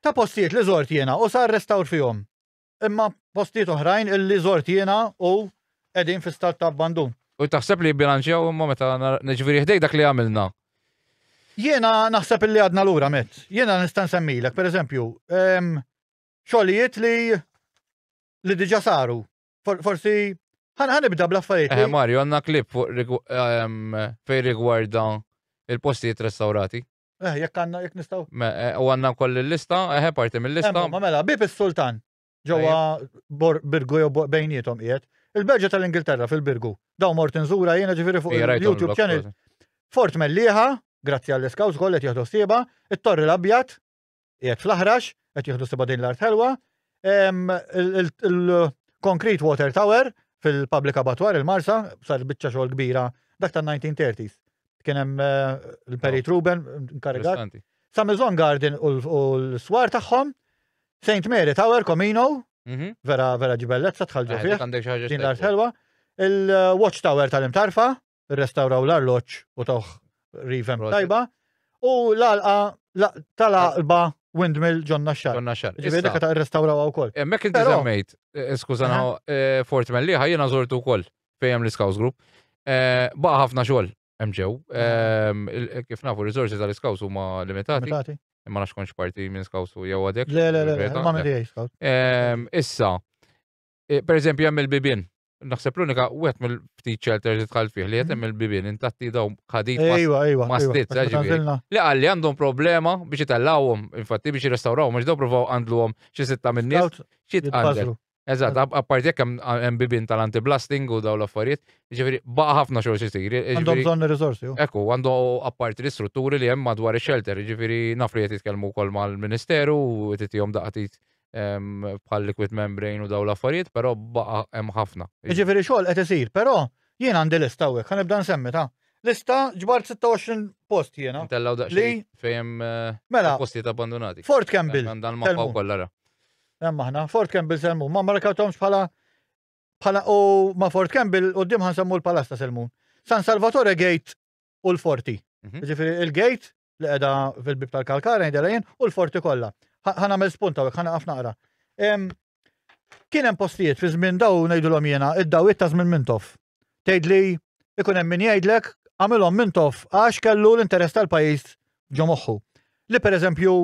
Ta' postijiet li zort jena u sar restawr fihom. Imma postijiet oħrajn illi żort jiena u qegħdin fi stat ta' abbandun. U taħseb li jibbilanċjaw imma meta ġifieri ħdejk dak li għamilna. Jiena naħseb li għadna lura met. Jiena nista' nsemmilek, pereżempju, ehm, xogħlijiet li li diġà saru. Forsi ħanibda bl-affarijiet. Eh, Mario, għandna klip fuq ehm, fej rigwarda il-postijiet restaurati. Eh, jekk għanna, jekk nistaw. Eh, u għanna koll il-lista, eħe eh, parti mill-lista. Ma mela, bib il-sultan, ġewa birgu jew bejnietom qiegħed. Il-berġa tal-Ingilterra fil-birgu, daw mort nżura jiena ġifiri fuq il-YouTube channel. Fort Melliħa, grazzi għall-iskawż kollet jieħdu s-sieba, it-torri l-abjad, Qiegħed fl-aħrax, qed jieħdu seba' din l-art ħelwa. Il-Concrete Water Tower fil-Public Abattoir il-Marsa sar biċċa xogħol kbira dak tan-1930s. Kien hemm eh, il-Perit Ruben nkarigat. Samizon Garden u l-swar tagħhom, St. Mary Tower, Comino, mhm. vera vera ġibellezza tħalġu eh, fih. Din l-art ħelwa. Il-Watch Tower tal-imtarfa, rrestawraw l-arloġġ u tawh rivem tajba. U l-alqa tal-alba Windmill ġonna xar. Ġonna xar. Ġifieri dak ta' rrestawraw wkoll. Hemmhekk inti semmejt, eh, skużana, eh, Fort Melliħa jiena żortu wkoll fejn l-Scouts Group. Eh, baqa' ħafna xogħol hemm ġew. Ehm, kif nafu r-riżorsi tal-Scouts huma limitati. Imma nax konx parti minn Scouts u jew għadek. Le, le, le, ma' Scouts. Ehm, issa, Eh, per eżempju, hemm il-bibien. Naħseb l-unika wieħed mill-ftit shelter li tħall fih li qed hemm il-bibien intatti daw ħadit mastit li għalli għandhom problema biex itellawhom, infatti biex jirrestawrawhom biex daw provaw għandluhom xi sitta minn nies xi tqandel. Eżatt, apparti jekk hemm bibien tal-anti-blasting u daw l-affarijiet, ġifieri baqa' ħafna xogħol xisir. Għandhom bżonn ir-riżorsi. Ekku, għandu apparti l-istrutturi li hemm madwar ix-shelter, ġifieri naf li qed jitkellmu wkoll mal-Ministeru u titihom daqatit bħal liquid membrane u daw l-affarijiet, però baqa' hemm ħafna. Jiġifieri xogħol qed isir, però jien għandi lista hawnhekk, ħa nibda nsemmi ta' lista ġbart 26 post jiena. Tellaw daqsxejn fejn eh, mela, postijiet abbandonati. Fort Campbell. Dan ma paw kollara. Hemm aħna, Fort Campbell selmun, ma markawtomx bħala bħala u ma Fort Campbell u dim ħansemmu l-palasta selmun. San Salvatore Gate u l-Forti. Mhm. Ġifieri il-Gate li qiegħda fil-bib tal-kalkara ngħidilha jien u l-forti kollha. Ħa nagħmel spunta u ħana ħafna naqra. Kien hemm postijiet fi żmien daw ngħidulhom jiena id-dawiet ta' żmien Mintoff. Tgħidli ikun hemm min jgħidlek għamilhom Mintoff għax kellu l-interess tal-pajjiż ġo moħħu. Li pereżempju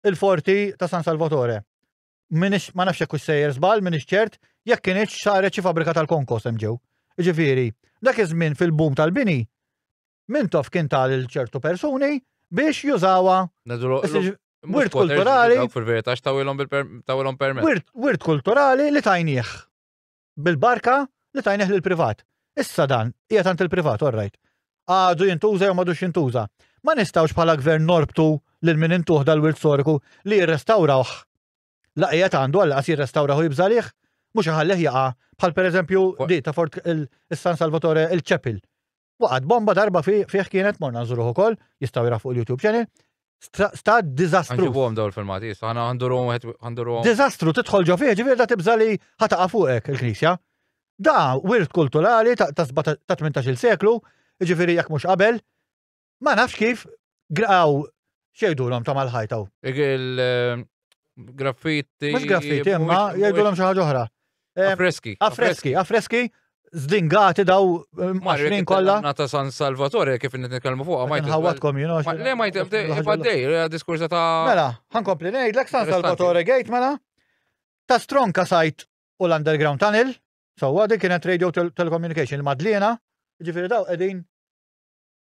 il-forti ta' San Salvatore. Minix ma nafx hekk sejjer żball, minix ċert, jekk kienx saret xi fabrika tal-konkos hemm ġew. Ġifieri, dak iż-żmien fil-bum tal-bini Mintoff kien ta' lil ċertu persuni biex jużawha. Wirt kulturali. Fil-verità x'tawilhom tawilhom permess. Wirt kulturali li tajnieh bil-barka li tajnieh lil privat. Issa dan hija tant il-privat, orrajt. Għadu jintuża jew m'għadux jintuża. Ma nistgħux bħala gvern norbtu lil min intuħ dal-wirt storiku li jirrestawrawh la qiegħed għandu għal qas jirrestawrawh jibżalih mhux iħallih jaqa' bħal pereżempju di ta' Fort il-San Salvatore il-Ċepil Waqgħet bomba darba fih kienet morna nżuruh ukoll, jistgħu jra fuq il-YouTube channel. Sta dizastru. Għanġibu għom daw il-filmati, għana għanduru għanduru. Dizastru, titħol ġo fih, ġifir da tibza li ħataqa fuqek il-knisja. Da, wirt kulturali ta' 18 seklu, ġifiri jek mux qabel, ma nafx kif għaw Xejdulhom ta' mal-ħajta u. Il-graffiti. Mhux graffiti, imma jgħidulhom xi ħaġa oħra. Affreski. Affreski, affreski zdingati daw maħrin kollha. Nata San Salvatore kif qed nitkellmu fuqha ma jtħawatkom jien għax. Le ma jtibdej, diskursa ta' Mela, ħankompli ngħidlek San Salvatore Gate mela ta' stronka sajt u l-underground tunnel, sewwa dik kienet radio telecommunication madliena, ġifieri daw qegħdin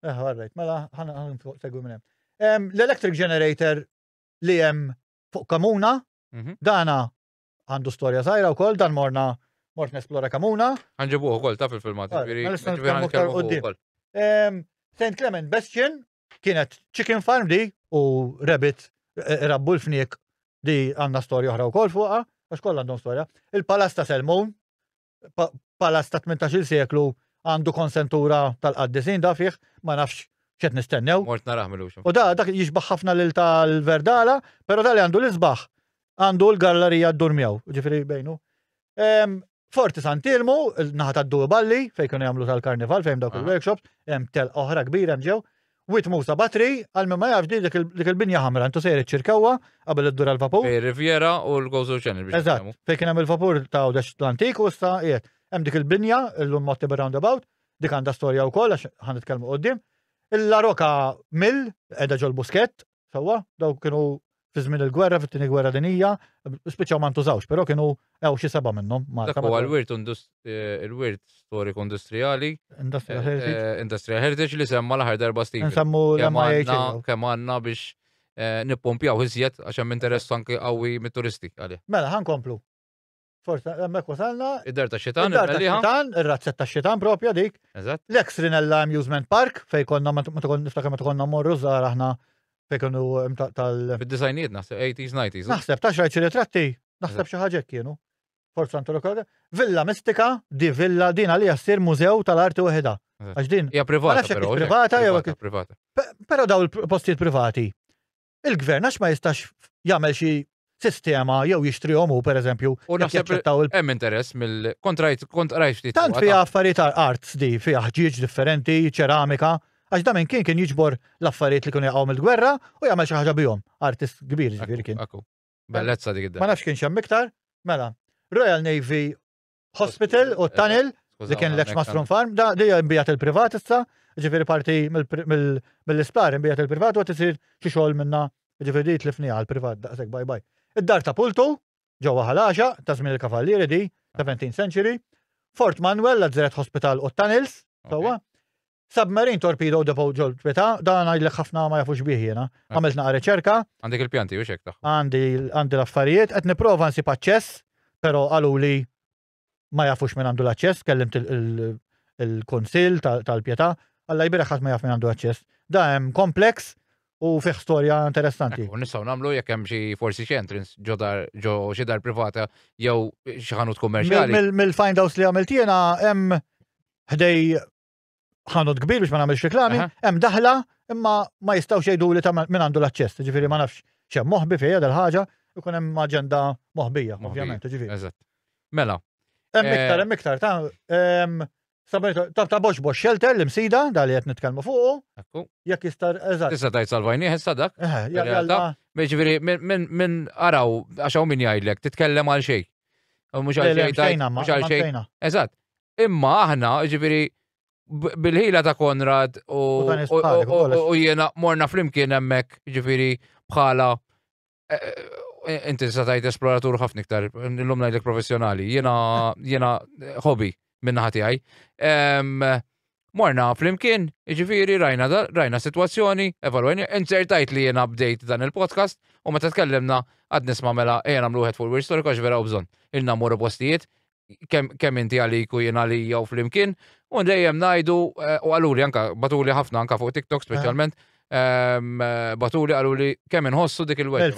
Eh, għarrejt, mela ħana ħan segwi minn hemm. L-electric generator li hemm fuq kamuna, mhm. dana għandu storja żgħira wkoll dan morna mort nesplora kamuna. Għanġibu ukoll ta' fil-filmat, mela St. Clement Bastion kienet chicken farm di u rabbit e, e, rabbu l-fniek di għanna storja oħra wkoll fuqha, għax kollha għandhom storja. Il-Palas ta' Selmun, palazz ta' 18 seklu għandu konsentura tal-qaddisin da fih, ma nafx xed nistennew. Mort naraħ mill U da dak jixbaħ ħafna lil tal-Verdala, pero da li għandu l-isbaħ għandu l-gallerija d-dur miegħu, ġifieri bejnu. Forti Santilmu, naħa tad-Due Balli, fejn kienu jagħmlu tal-karnival, fejn dawk il-workshops, hemm tel oħra kbira ġew, Wied Musa Batri, għal min ma jafx din dik il-binja ħamra, intu sejjer iċ-Ċirkewwa qabel iddur għall-vapur. Bejn ir-Riviera u l-Gozo Channel biex Eżatt, nifhmu. fejn kien hemm il-vapur ta' Għawdex l-antik u issa qiegħed. Hemm dik il-binja, illum mgħotti bir-roundabout, dik għandha storja wkoll għax ħa nitkellmu quddiem. Il-La Roca Mill, qiegħda ġol-Buskett, Sewwa, daw kienu fi żmien il-gwerra, fit-tieni gwerra dinija, spiċċaw ma ntużawx, però kienu hawn xi seba' minnhom. Dak huwa l-wirt eh, il-wirt storiku industrijali. Industrial eh, Heritage. Eh, Industrial Heritage li semma l-aħħar darba Steve. Nsemmu l-MIH. Kemm għandna biex nippompjaw iżjed għax hemm interess anke qawwi mit-turisti għalih. Mela, ħankomplu. Forse hemmhekk wasalna. Id-dar ta' xitan. Id-dar ta' xitan, ir-razzett ta' xitan propja dik. Eżatt. L-ex Rinella Amusement Park fej konna ma tkun niftakar ma tkonna morru żgħar aħna fej konu tal. Fid-disajnijiet naħseb 80s 90s. Naħseb ta' xi ritratti, naħseb xi ħaġa kienu. Forza Anto Lokal. Villa Mistika, di villa din għalija ssir mużew tal-arti waħda. Għax din. Hija privata. Privata jew privata. Però daw il-postijiet privati il-gvern għax ma jistax jagħmel xi sistema jew jixtrihom hu pereżempju u naħseb hemm interess mill kontrajt kontrajt ftit. Tant fiha affarijiet arts di fiha ħġieġ differenti, ċeramika, għax da minn kien kien jiġbor l-affarijiet li kienu jaqgħu mill-gwerra u jagħmel xi ħaġa bihom. Artist kbir ġifieri kien. Bellezza dik id Ma nafx kien xemm iktar, mela. Royal Navy Hospital u t-tunnel li kien l-ex Mastrum Farm, da li imbijat il-privat issa, ġifiri parti mill-isptar imbijat il-privat u tisir xi xogħol minna ġifiri li tlifni għal-privat daqshekk bye bye. Id-dar ta' Pultu, ġewwa ħalaxa, ta' żmien il-Kavallieri di, 17 century, Fort Manuel, l-Azzeret Hospital u t-Tunnels, sewwa. Submarine Torpedo Depot ġol bita, dan ngħidlek ħafna ma jafux bih jiena. Eh. Għamilt naqa' riċerka. Għandek il-pjanti u xek taħħu. Għandi għandi l-affarijiet, qed nipprova nsib aċċess, però qalu li ma jafux minn għandu l-aċċess, kellimt il-konsil tal-pjeta, għalla jbira ħadd ma jaf minn għandu aċċess. Da hemm kompleks u fih storja interessanti. U nistgħu nagħmlu jekk hemm xi forsi xi entrance ġo dar ġo xi dar privata jew xi ħanut kummerċjali. Mill-find house li għamilt jiena hemm ħdej ħanut kbir biex ma nagħmilx reklami, hemm daħla imma ma jistgħux jgħidu li ta' min għandu l-aċċess, ġifieri ma nafx xemm moħbi fejja dal-ħaġa, ikun hemm aġenda moħbija, ovvjament, ġifieri. Eżatt. Mela. Hemm eh, iktar, hemm iktar, ta' ehm, ta' ta' box box shelter li msida, dal qed nitkellmu fuqu. Ekku. Jekk jista' eżatt. Tista' tajt salvajni ħessa dak. Eh, ġifieri minn araw għax hawn min jgħidlek titkellem għal xejn. Mhux għal xejn. Mhux għal xejn. Eżatt. Imma aħna, ġifiri, bil-ħila ta' Konrad u jiena morna flimkien hemmhekk, ġifiri, bħala eh, eh, inti satajt esploratur ħafna iktar, l-lum najdlek professjonali, jiena jiena hobby minna ħati għaj. Morna flimkien, ġifiri, rajna, rajna situazzjoni, evalwajni, insertajt li jiena bdejt dan il-podcast u meta tkellimna għad nisma mela ejja nagħmlu wieħed fuq il-wirt storika vera u bżonn. Il-namur postijiet kemm inti għalik u jien għalija u flimkien, u dejjem ngħidu eh, u għaluli anka batuli ħafna anka fuq TikTok speċjalment. Ehm, batuli għalu li kemm inħossu dik il-wet.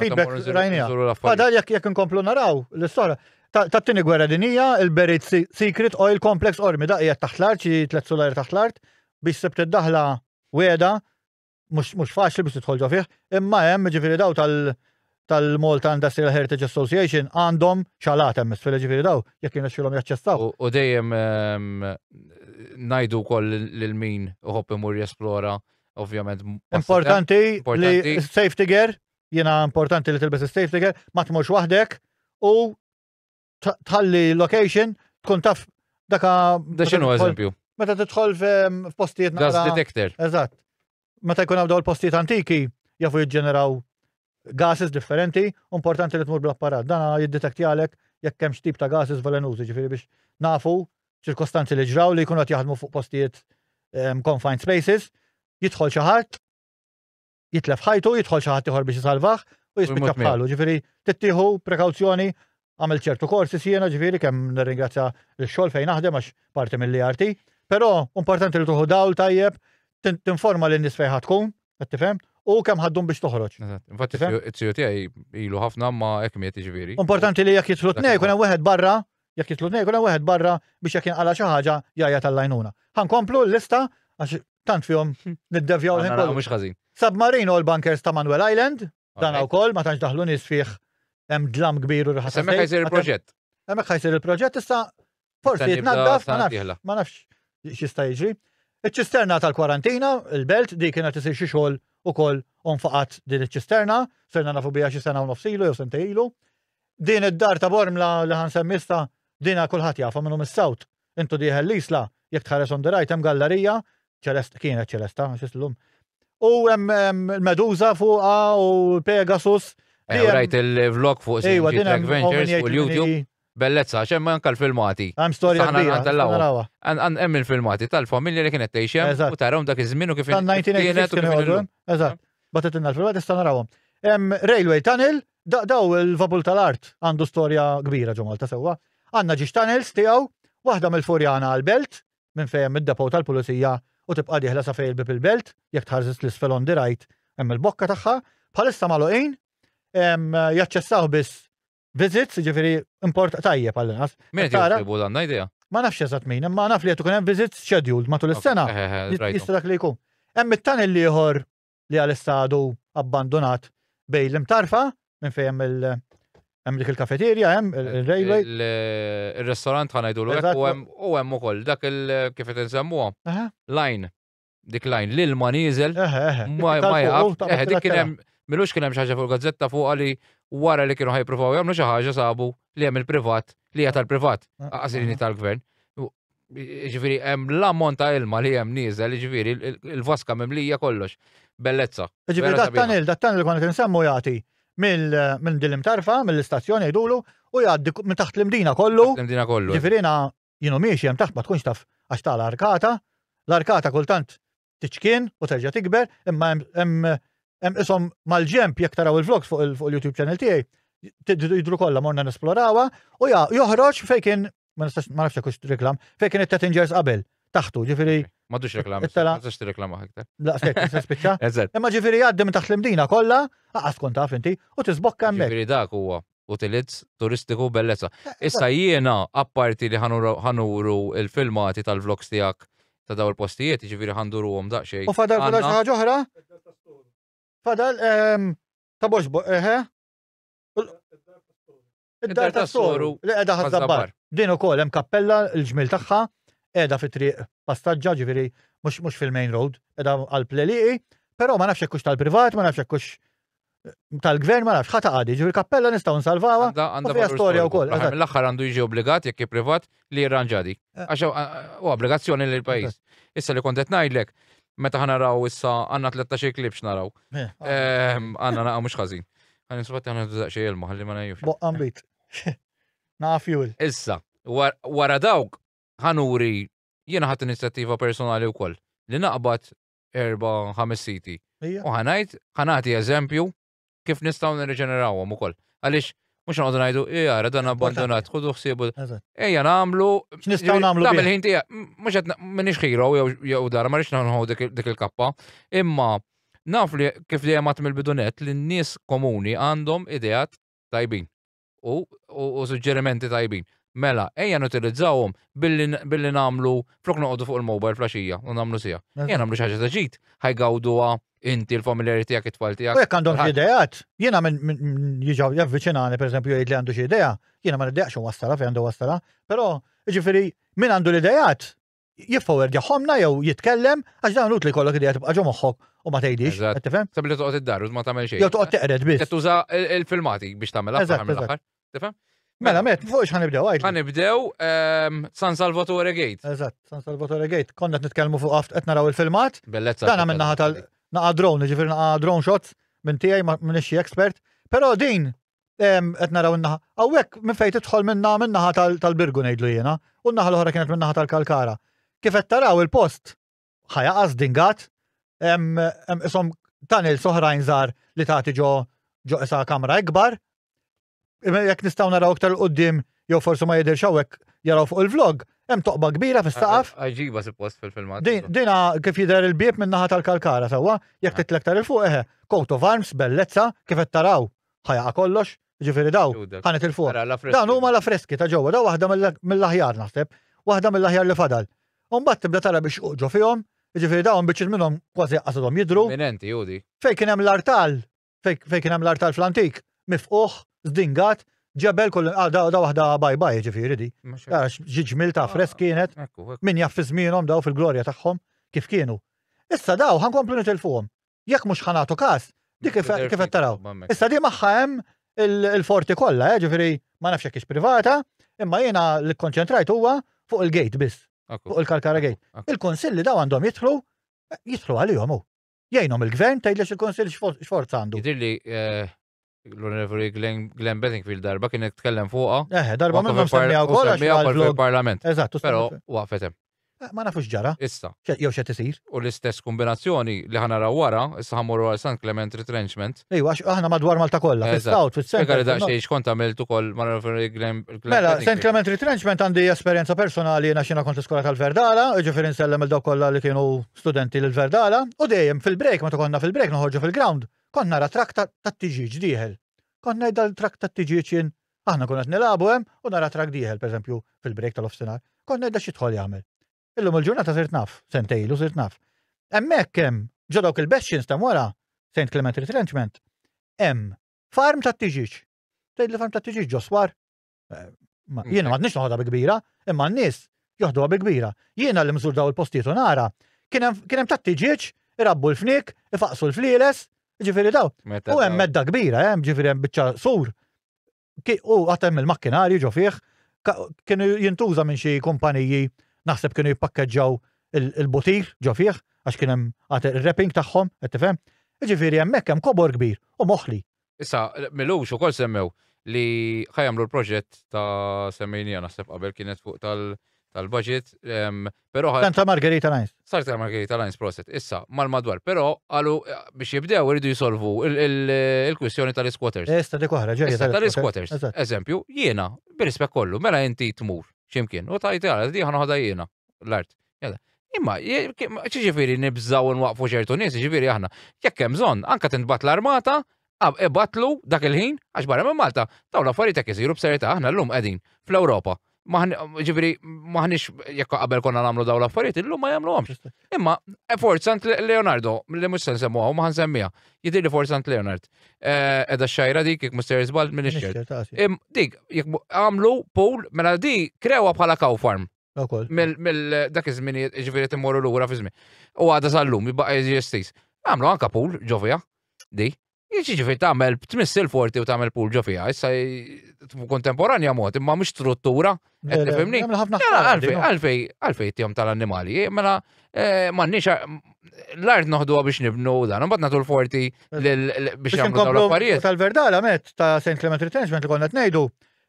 Għadar jek jek nkomplu naraw l-istora. Tat-tini gwerra dinija, il-Berit Secret Oil Complex Ormi, da' jgħat taħt l-art, xie tlet solari taħt l-art, biex sebt id-daħla weda, mhux faċli biex tidħol ġo fih, imma hemm ġifieri daw tal- tal-Malta Industrial Heritage Association għandhom xalat hemm isfel ġifieri daw jekk jinexxilhom jaċċessaw. U dejjem ehm, ngħidu wkoll lil min uħobb imur jesplora ovvjament. Importanti li safety gear, jiena importanti li tilbes safety gear, ma tmurx waħdek u tħalli location tkun taf daka. Da xinu eżempju? Meta tidħol f'postijiet Gas detector. Eżatt. Meta jkun għabdaw l-postijiet antiki, jafu jiġġeneraw gases differenti, importanti li tmur bl-apparat. Dana jiddetekti għalek jekk kemm tip ta' gases velenużi, ġifiri biex nafu ċirkostanzi li ġraw li jkunu għat jaħdmu fuq postijiet confined spaces, jidħol xaħat, jitlef ħajtu, jidħol xi ħadd ieħor biex isalvah u jispiċċa bħalu. Ġifieri tittieħu prekawzjoni għamel ċertu korsi siena ġifieri kemm nirringrazzja l-xogħol fejn naħdem għax parti mill-IRT. Però importanti li tuħu dawl tajjeb tinforma lin nies fejn tkun, qed tifhem, u kemm ħaddum biex toħroġ. Infatti it-siju tiegħi ilu ħafna ma hekk miet ġifieri. Importanti li jekk jitlu tnej kun hemm wieħed barra jekk jitlu tnej, kuna wieħed barra biex jekk jinqala xi ħaġa jgħajja tal-lajnuna. Ħankomplu l-lista għax tant fihom niddevjaw l-ħin kollu. Mhux ħażin. Submarine u l-bunkers ta' Manuel Island, dan wkoll ma tantx daħlu nies fih hemm dlam kbir u rħas. Hemmhekk ħajsir il-proġett. Hemmhekk ħajsir il-proġett issa forsi jitnaddaf ma nafx ma nafx x'jista' jiġri. Iċ-ċisterna tal-kwarantina, il-belt, di kienet isir xi xogħol ukoll onfaqat din iċ-ċisterna, serna nafu bija xi sena u nofsilu jew sentejlu. Din id-dar ta' Bormla li ħan semmista dina kulħadd jafa minnu mis-sawt Intu dieħel l-Isla, jekk tħares on the right hemm gallerija, ċelesta, kienet ċelesta, għax islum. U hemm il-Medusa fuqha u Pegasus. Ew rajt il-vlog fuq Ejwa, din hemm Ventures u l-YouTube. Bellezza, xem anka l-filmati. Għam storja kbira. Għem il-filmati tal-familja li kienet teħxem u tarom dak iż-żmien u kif kienet. Eżatt, batet inna l-filmati sta narawhom. Hemm railway tunnel Daw il-vapul tal-art għandu storja kbira ġo Malta sewwa. Għandna ġiex tunnels tiegħu, waħda mill-Furjana għall-Belt, minn fejn hemm id-depot tal-pulizija u tibqa' dieħla sa fejn il-bieb il-Belt, jekk tħares l-isfel on the right hemm il-bokka tagħha, bħalissa magħluqin, jaċċessawh biss visits, jiġifieri import tajjeb għall-inqas. Min qed jitolbu dan idea? Ma nafx eżatt min, imma naf li qed ikun hemm visits scheduled matul is-sena. Jista' dak li jkun. Hemm it-tunnel ieħor li għalissa għadu abbandunat bej l-imtarfa minn fejn hemm il- hemm dik il-kafeterja, hemm il-railway. Il-restaurant ħanajdu l u hemm ukoll dak il-kif qed insemmuha. Lajn, dik lajn, l-ilma nieżel. Ma jaqaf. Dik kien hemm, milux kien hemm xi ħaġa fuq gazzetta fuq għali wara li kienu ħajpruvaw jagħmlu xi ħaġa sabu li hemm il-privat li hija tal-privat, għażilini tal-gvern. Ġviri, hemm l-ammont ta' ilma li hemm nieżel, ġviri, il-vaska mimlija kollox. Bellezza. Ġviri, dat tanil, dat tanil kont nsemmu jagħti minn din l-imtarfa, mill-istazzjon jgħidulu, u jgħaddi minn taħt l-imdina kollu. L-imdina kollu. Ġviri, jiena jienu miexi hemm taħt ma tkunx taf għax ta' l-arkata. L-arkata kultant tiċkien u terġa' tikber, imma hemm hemm isom mal-ġemp jekk taraw il-vlogs fuq il-YouTube channel tiegħi, jidru kollha morna nesplorawha u joħroġ fejn kien ma nistax ma nafx hekk reklam, fejn kien it-Tattingers qabel taħtu, ġifieri. M'għadux reklam, ma tistax tirreklama aktar. La, stejk, se spiċċa. Imma ġifieri għaddi minn taħt l-imdina kollha, aqas kont taf inti, u tisbokka hemmhekk. Ġifieri dak huwa. utilizz turistiku bellezza. Eh, eh, Issa jiena, apparti li ħanuru il-filmati tal-vlogs tijak ta' daw il-postijiet, ġiviri ħanduru għom daqxej. U fadal fadal xaħġa oħra? Fadal, ehm, ta' boxbo, eħe? Eh, Id-dar ta' soru li edha ħazzabbar. Din u kol, hemm kappella l-ġmil tagħha edha fi triq passaġġa ġifieri mhux fil-main road, edha għal pleliqi, però ma nafx hekk tal-privat, ma nafx hekk tal-gvern ma nafx ħata għadi, ġifieri kappella nistgħu nsalvawha. Għandha fiha storja wkoll. L-aħħar għandu jiġi obbligat jekk privat li jirranġadi. Eh. Għax u obbligazzjoni lil pajjiż. Issa li kontet ngħidlek, meta ħana raw issa għandna 13 klib x'naraw. Eh. Ehm, għandna naqa' mhux ħażin. Għan insubatti għandna tużaq xi ilma ħalli ma ngħidux. Boqqa mbit. Na fuel. Issa, wara dawk ħanuri jiena ħadd inizjattiva personali wkoll li naqbad erba' ħames siti. U ħanajt, ħanati eżempju kif nistgħu nirriġenerawhom ukoll. Għaliex mhux noqogħdu ngħidu, jara dan abbandonat, ħudu ħsiebu. Ejja nagħmlu. X'nistgħu nagħmlu? Nagħmel ħin tiegħek. Mhux qed minix ħiro jew dar, ma rridx nħu dik il-kappa. Imma naf li kif dejjem għat mill-bidunet li n-nies komuni għandhom ideat tajbin. u, u, u suġġerimenti tajbin. Mela, ejja nutilizzawhom billi, billi namlu flok noqogħdu fuq il-mobile flaxija u namlu sija. Ejja namlu xi ħaġa ta' ġid, ħajgawduha inti l-familjari tiegħek it-tfal tiegħek. U jekk għandhom xi ideat, jiena minn min, min jiġaw javviċinani pereżempju jgħid li għandu xi idea, jiena ma niddejaqx wassala fejn għandu wassala, però jiġifieri min għandu l-ideat jiffowerġaħomna jew jitkellem, għax dan utli kollok idea tibqa' ġo moħħok u ma tgħidix, qed tifhem? Sabbi li toqgħod id-dar u ma tagħmel xejn. Jew toqgħod teqred biss. Qed tuża il-filmati biex tagħmel aħħar mill-aħħar. Tifhem? Mela, mela, met, fuq xħan nibdew għajt. Għan nibdew ehm, San Salvatore Gate. Eżatt, San Salvatore Gate. Konna t-nitkelmu fuq għaft qed naraw il-filmat. Bellezza. Dan għamil naħa tal naqa drone, ġifir naqa drone shots minn tijaj minn xie expert. Pero din, qed naraw in-naħa. Hawnhekk minn fejn tidħol minna min-naħa tal-Birgu ngħidlu jiena, u n-naħa l-oħra kienet min-naħa tal-Kalkara. Kif qed taraw il-post ħajaqas dingat, isom tunnels oħrajn żgħar li tagħti ġo ġo isa kamra ikbar. Jekk nistgħu naraw iktar l-qudiem jew forsi ma jidhirx hawnhekk jaraw fuq il-vlog, hemm toqba kbira fis-saqaf. Għaġiba suppost fil-filmat. Dina kif jidher il-bieb minn naħa tal-kalkara sewwa, jekk titlek tar il-fuq eħe, coat of arms, bellezza, kif qed taraw. Ħa jaqa' kollox, jiġifieri dawn ħa nitilfuhom. Dawn huma l-affreski ta' ġewwa, dawn waħda mill-aħjar naħseb, waħda mill-aħjar li fadal. U mbagħad tibda tara biex xquq ġo fihom, jiġifieri dawn biċċiet minnhom kważi laqqas għadhom jidhru. Fejn kien hemm l-artal, fejn kien hemm l-artal fl-antik, mifqugħ, żdingat, ġebel kull imqar, dawn waħda bye bye jiġifieri di. Ara xi ġmiel ta' affresk kienet, min jaf fi żmienhom dawn fil-glorja tagħhom kif kienu. Issa dawn ħa nkomplu nitilfuhom. Jekk mhux ħanatu każ, dik kif qed taraw. Issa di magħha hemm il-forti kollha, eh, ġifieri ma nafx hekk privata, imma jiena li kkonċentrajt huwa fuq il-gate biss. Fuq il-Kalkara Gate. Il-konsilli daw għandhom jidħlu, jidħlu għalihom hu. Jgħinhom il-gvern tgħidlex il-konsill x'forza għandu. Jidirli eh, l-Onorevoli Glenn Bedingfield darba kien tkellem fuqha. Eh, darba minn ma semmiha wkoll għax fil-Parlament. Eżatt, però waqfet hemm. Eh, ma nafux ġara. Issa. Jew xe tisir. U l-istess kombinazzjoni li ħana raw wara, issa ħammur għal San Clement Retrenchment. Ejwa, għax aħna madwar Malta kollha, fil-South, fil-Central. Għalli daqxie xkont għamilt u koll ma Glenn. Mela, San Clement Retrenchment għandi esperienza personali jena xina kont skola tal-Verdala, ġifiri nsellem il-daw kollha li kienu studenti l-Verdala, u dejjem fil-break, ma konna fil-break, noħorġu fil-ground. Kont nara trakk tat-tiġieġ dieħel. Kont ngħid għal trakk tat-tiġieġ jien, aħna nkunu qed nilagħbu hemm u nara trakk dieħel, pereżempju, fil-break tal-ofsinhar. Kont ngħidha x'jidħol jagħmel. Illum il-ġurnata sirt naf, sentej ilu sirt naf. Hemmhekk hemm, ġo dawk il-bastions ta' wara, St. Clement Retrenchment, hemm farm tat-tiġieġ. Tgħidli farm tat-tiġieġ ġo swar? Jiena m'għadniex noħodha bi kbira, imma n-nies joħduha bi kbira. Jiena li mżur daw il-postijiet u nara, kien hemm tatti ġieġ, irabbu l-fnik, ifaqsu l-flieles, ġifieri daw. U hemm medda kbira, hemm ġifieri hemm biċċa sur. U għatem il-makkinari ġo fih, kienu jintuża minn xi kumpaniji naħseb kienu jippakkeġġaw il-butir ġo fih, għax kien hemm il-rapping tagħhom, qed tifhem. Ġifieri hemmhekk hemm kobor kbir u moħli. Issa, Milux ukoll semmew li ħajamlu l-proġett ta' semmejnija naħseb qabel kienet fuq tal-budget, però Dan ta' Margherita Lines. Sar ta' Margherita Lines proset, issa, mal-madwar, però qalu biex jibdew iridu jisolvu il-kwistjoni tal-isquatters. Esta dik oħra, ġej. Issa tal-isquatters, eżempju, jiena, bir-rispett kollu, mela inti tmur ximkien u tajt għal di ħanoħda jiena. l-art. Imma, ċiġifiri nibżaw nwaqfu ċertu nies, ċiġifiri aħna, jekk hemm bżonn, anka tintbat l-armata, ibatlu dak il-ħin, għax barra minn Malta, dawn l-affarijiet jekk isiru b'serjetà aħna llum qegħdin fl-Ewropa. Ġifieri maħniex jekk qabel konna nagħmlu dawn l-affarijiet, illum ma jagħmluhomx. Imma eh, forzant Leonardo, li mhux se nsemmu hawn ma ħansemmiha. Jidhir li forzant Leonard. Eh, edha xajra dik jekk Mr. Isbald minn ix Dik, jekk għamlu pool mela di krewa bħala cow farm. Ukoll. Mill dak iż-żminijiet ġifieri timmorru lura fi żmien. U għadha sal-lum jibqa' jeżisti. Għamlu anka pool ġo fiha. Di. Jiġifieri tagħmel tmiss il-forti u tagħmel pool ġo fiha. Issa kontemporanja mod imma mhux struttura. Qed tifhimni? Għamlu ħafna Mela, affarijiet, Għalfej, no? għalfej, għalfej tihom tal-annimali. eh, Mela, eh, m'għandniex eh, l-art noħduha biex nibnu u dan, imbagħad nagħtu l-forti lil- l- biex Biex jagħmlu dawn inkomplu l-affarijiet. tal-verdala met ta' St. Clement Retrenchment li konna tnejdu,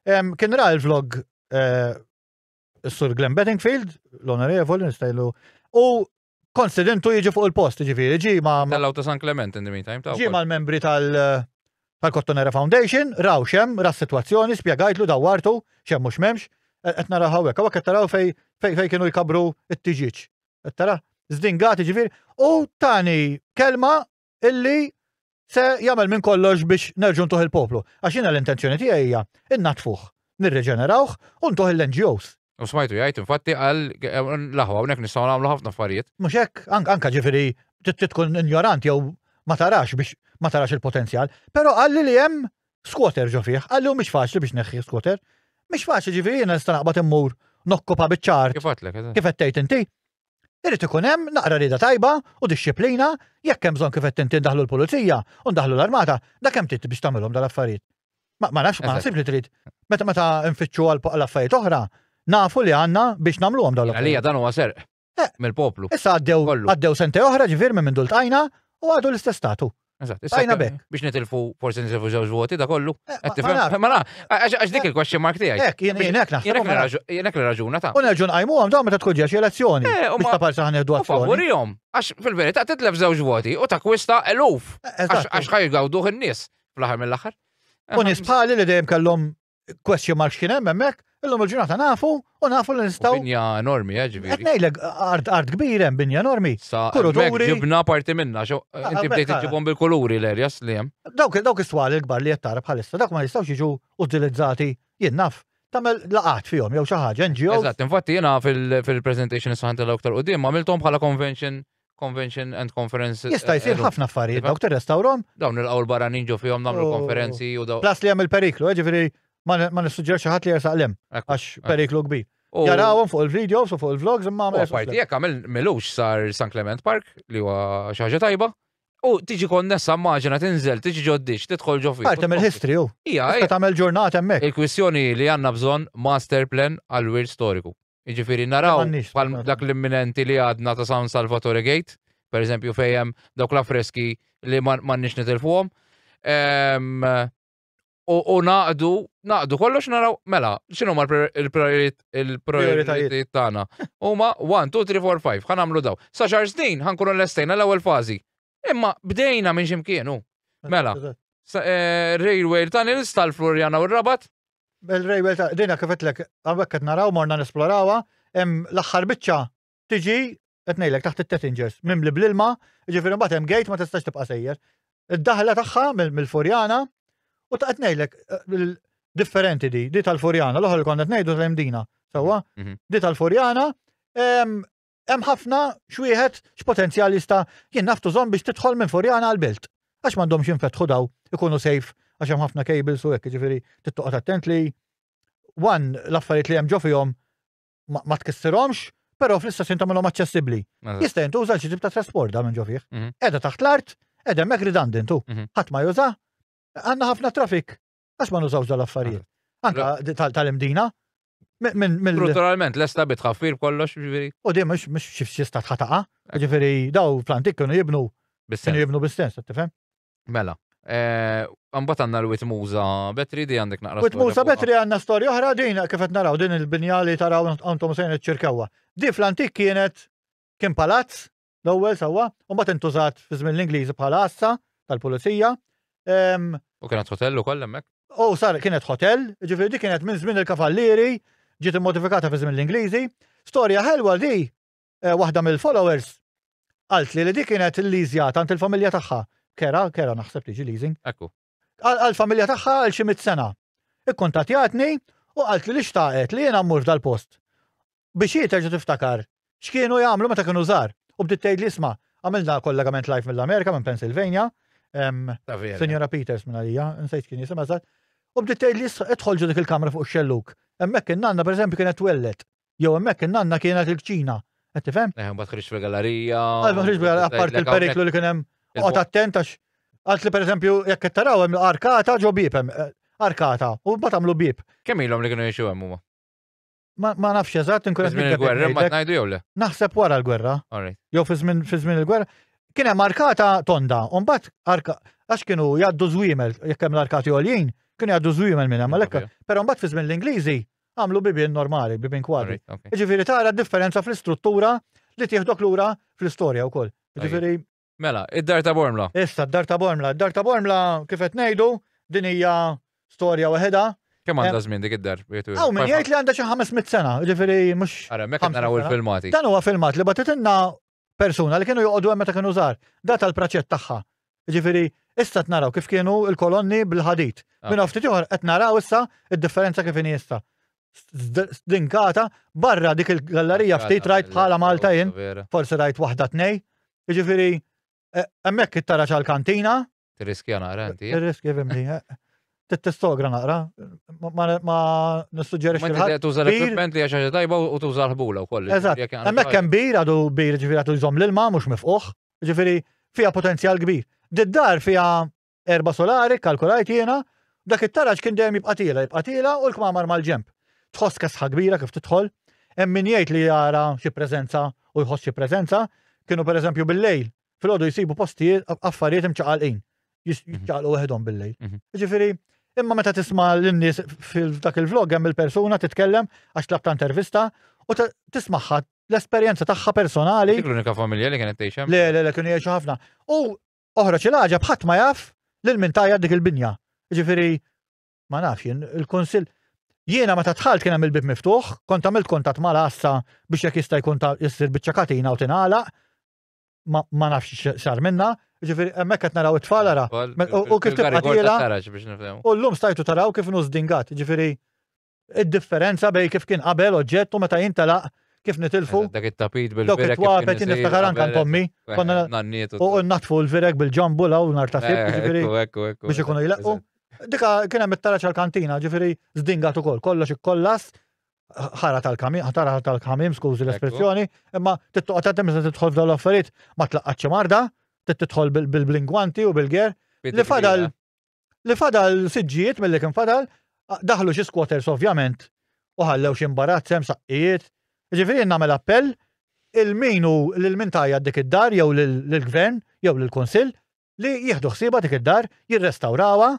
em, kien ra l-vlog eh, Sur Glenn Bettingfield, l-onorevoli, nistajlu, u konsidentu jiġi fuq il-post, ġifiri, ġi ma. Tellaw ta' San Clement in the meantime. Ġi ma' l-membri tal- tal-Kottonera Foundation, raw xem, ra situazzjoni, spiegajtlu dawartu, xem mux memx, qed nara hawnhekk, hawnhekk qed taraw fej fej kienu jkabru t-tiġiġ. Qed tara zdingati ġifier u tani kelma illi se jagħmel minn kollox biex nerġu ntuħ il-poplu. Għax jiena l-intenzjoni tiegħi hija innatfuh, nirreġenerawh u ntuħ l-NGOs. U smajtu jgħid, infatti għal laħwa hawnhekk nistgħu nagħmlu ħafna affarijiet. Mhux hekk, anka ġifieri tkun injorant jew ma tarax biex ma tarax il-potenzjal, però qalli li hemm skwater ġo fih, qalli hu mhix faċli biex neħħi skwater. Mhix faċli ġifieri jiena nista' naqbad immur nokkupa biċ-ċart. Kif għatlek? Kif qed tgħid inti? Irid ikun hemm naqra rieda tajba u dixxiplina jekk hemm bżonn kif qed inti ndaħlu l-pulizija u ndaħlu l-armata, dak hemm trid biex tagħmilhom dal-affarijiet. Ma nafx ma ħsib li trid. Meta meta nfittxu għal affarijiet oħra, nafu li għandna biex nagħmluhom dawn. Għalija dan huwa serq eh. mill-poplu. Issa għaddew għaddew sentej oħra ġifier minn minn dultajna u għadu l-istess statu. Eżatt, issa Tajna jekk- bekk. biex nitilfu forsi nitilfu żewġ voti da kollu. Eh, Qed ma- tifhem? ma naf. Ma naf, għax għax dik il-question mark tiegħi. Hekk, jien jien hekk naħseb. Jenek li raġu- jenek li raġuna ta' U nerġu nqajmu għam dawn meta tkun ġex elezzjoni. Eh, u Biex ma- ta' parsa ħaneħdu u azzjoni. favorihom. Għax fil-verità titlef żewġ voti u takwista eluf. Għax Eżatt. għax ħajgawduh in-nies fl-aħħar mill-aħħar. U nies bħali li dejjem kellhom question marks kien hemm hemmhekk, illum il-ġurnata nafu u nafu li nistgħu. Binja enormi, eh, ġifieri. Qed ngħidlek art art kbir hemm binja enormi. Sa kuluri. Ġibna parti minna, xo ah, inti ah, bdejt iġibhom bil-kuluri l-erjas li hemm. Dawk dawk is-swali l-kbar li qed tara bħalissa, dawk ma jistgħux jiġu utilizzati jien naf tamel laqat fihom jew xi ħaġa NGO. Eżatt, infatti jiena fil-presentation is-saħan tal-aktar qudiem għamilthom bħala convention Convention and Conference. Jista' jsir eh, ħafna affarijiet, dawk tirrestawrom. Dawn il-qawl barranin ġo fihom nagħmlu oh. konferenzi u dawn. Plas li hemm il-periklu, eh, ġifieri ma nissuġġerx ħadd li jersaq lem għax periklu kbir. Jarawhom fuq il-videos u fuq il-vlogs imma ma Parti jekk għamil milux sar San Clement Park li huwa xi ħaġa tajba. U tiġi konnessa maġina tinżel, tiġi ġoddiċ, tidħol ġo fih. Parti mill-history u. Ija, tagħmel ġurnata hemmhekk. Il-kwistjoni li għandna bżonn master plan għal-wir storiku. Jiġifieri naraw bħal dak l-imminenti li għadna ta' San Salvatore Gate, per eżempju fejjem dawk l-affreski li m'għandniex nitilfuhom. U naqdu, naqdu kollox naraw, mela, xinu ma l-prioritajiet tagħna? Huma 1, 2, 3, 4, 5, ħan għamlu daw. Sa xar snin ħankunu l-estejna l-ewwel fażi. Imma bdejna minn ximkien, u. Mela, eh, railway tunnels tal-Florjana u r-Rabat. Bel railway ta' dina kifetlek, għawek qed naraw morna nesplorawa, hemm l-aħħar biċċa tiġi qed ngħidlek taħt it-Tettingers, mimli bl-ilma, ġifieri mbagħad hemm gate ma tistax tibqa' sejjer. Id-daħla tagħha mill-Furjana u ta' qed ngħidlek eh, differenti di, di tal-Furjana, l-oħra li konna qed ngħidu tal-imdina, sewwa, mhm. di tal-Furjana, Hemm ħafna x'wieħed x'potenzjal jista' jien naf tużhom biex tidħol minn Furjana għal Belt. Għax m'għandhomx jinfetħu daw, ikunu safe għax hemm ħafna cables u hekk, jiġifieri tittoqgħod attent li wan l-affarijiet li hemm ġo fihom ma tkissirhomx, però fl-istess jien tagħmilhom aċċessibbli. Jista' jintuża xi tip ta' trasport da minn ġo fih. Mhm. Qiegħda taħt l-art, qiegħda hemmhekk redundant hu. Mhm. Ħadd ma juża, għandna ħafna traffic Għax ma nużawx dal-affarijiet. Anka tal-imdina. Strutturalment, l-esta bitħaffir kollox, ġifiri. U di mux mux xifxista tħataqa, ġifiri daw plantik kienu jibnu. Kienu jibnu bistens, tifem? Mela. Eh, Għambat għanna l-wit muza betri di għandek naqra. Wit muza betri għanna storja oħra din kifet naraw din il-binja li taraw għantom sejn iċ-ċirkawa. Di fl-antik kienet kien palazz L-ewwel sewwa, u mbagħad intużat fi żmien l-Ingliżi bħala għassa tal-pulizija. Ehm, u kienet hotel ukoll hemmhekk? U sar kienet hotel, ġifieri dik kienet minn żmien il-kavallieri, ġiet immodifikata fi żmien l-Ingliżi. Storja ħelwa di, eh, waħda mill-followers qalt li li dik kienet il-liżja tant il-familja tagħha. Kera, kera naħseb tiġi leasing. Ekku. Għal-familja tagħha għal xi mit sena. Ikkuntatjatni u qalt li li xtaqet li jiena mmur dal-post. biex hi terġa' tiftakar x'kienu jagħmlu meta kienu żgħar u bdiet tgħidli isma' għamilna kollegament live mill-Amerika minn Pennsylvania, Sinjora Peters minn għalija, nsejt kien jisimha żgħar, u bdiet tgħidli idħol ġo dik il-kamra fuq ix-xellug. Hemmhekk in-nanna pereżempju kienet twelled, jew hemmhekk in-nanna kienet il-kċina. Qed tifhem? Eh, ma tħriġx fil-gallerija. Għal ma tħriġ fil-gallerija apparti il-periklu li kien hemm. Qgħod attent għax Għalt li per eżempju, jekk qed taraw hemm arkata ġo bib hemm eh, arkata u mbagħad għamlu bib. Kemm ilhom li kienu jgħixu hemm huma? Ma nafx eżatt, inkun qed il-gwerra ma tnajdu jew le. Naħseb wara l-gwerra. Jew fi żmien il-gwerra. Kien hemm arkata tonda, u mbagħad arka għax kienu jgħaddu żwiemel jekk hemm l-arkati għoljin, kienu jgħaddu żwiemel minn hemm għalhekk. Però mbagħad fi żmien l-Ingliżi għamlu bibien normali, bibien kwadri. Ġifieri tara differenza fl-istruttura li tieħdok lura fl-istorja wkoll. Ġifieri Mela, id-Dar ta' Bormla. Issa, d-Dar ta' Bormla. Id-Dar ta' Bormla, kif qed ngħidu, din hija storja waħedha. Kemm għandha żmien dik id-dar? Hawn min jgħid li għandha xi 500 sena, jiġifieri mhux. Ara, hemmhekk qed naraw il-filmati. Dan huwa filmat li bagħtitilna persuna li kienu joqogħdu hemm meta kienu żgħar. Data l-praċett tagħha. Jiġifieri issa qed naraw kif kienu l-kolonni bil-ħadid. Minn hawn ftit ieħor qed naraw issa d-differenza kif inhi issa. stdinkata barra dik il-gallerija ftit rajt bħala Malta jien, forsi rajt waħda tnej. Jiġifieri eh, hemmhekk it-tara ċal-kantina. Tirriskja naqra inti. Tirriskja fimni. Eh. Tittistogra naqra, ma nissuġġerix. Ma tibda tuża l-equipment li għaxa tajba u tuża l-ħbula u koll. Eżatt, hemmhekk hemm bir għadu bir ġifieri għadu jżomm l-ilma mhux mifquħ, ġifieri fiha potenzjal kbir. Did-dar fiha Erba' solari kkalkulajt jiena, dak it-taraġ kien dejjem jibqa' tiela' jibqa' tiela' u l-kmamar mal-ġenb. Tħoss kesħa kbira kif tidħol. Hemm min jgħid li jara xi preżenza u jħoss xi preżenza. Kienu pereżempju bil-lejl, filgħodu jsibu postijiet, affarijiet imċaqalqin. Jiċċaqalqu weħidhom bil-lejl. Jiġifieri, imma meta tisma' lin-nies f'dak il-vlog hemm il-persuna titkellem għax tlabt intervista u tismagħha l-esperjenza tagħha personali. Dik l-unika familja li kienet tgħix hemm? Le, le, le, kienu jgħixu ħafna. U oħroġ il-ħaġa bħadd ma jaf lil min tajja dik il-binja. Ġifieri ma nafx jien il-Kunsill Jiena meta tħalt kien hemm il-bib miftuħ, kont għamilt kontatt ma' assa biex jekk jista' jkun ta' jissir biċċa katina u tingħalaq, ma nafx xar minna, ġifiri, emmek qed naraw it-tfal ara. U kif tibqa' U llum stajtu taraw kif nużdingat, ġifiri, id-differenza bej kif kien qabel oġġett u meta jintelaq kif nitilfu. Dak it-tapit bil-virek. Dak it-twapet niftakar anka ntommi. U natfu l-virek bil-ġambu law nar ta' fib, ġifiri. Biex ikunu jleqqu. Dika kien hemm it-taraċ għal-kantina, ġifiri, zdingat ukoll, kollox ikkollas, ħara tal-kamim, ħara tal-kamim, skużi l-espressjoni, imma tittoqgħod għatem se tidħol f'dawn l-affarijiet ma tlaqqatx marda, titħol bil-blingwanti u bil-ger. Li fadal li fadal siġġijiet mill-li kien fadal, daħlu xi squatters ovvjament u ħallew xi mbarazz hemm saqqijiet. Ġifieri nagħmel appell il-min u lil min tajja dik id-dar jew lill-gvern jew lill-kunsill li jieħdu ħsieba dik id-dar, jirrestawrawha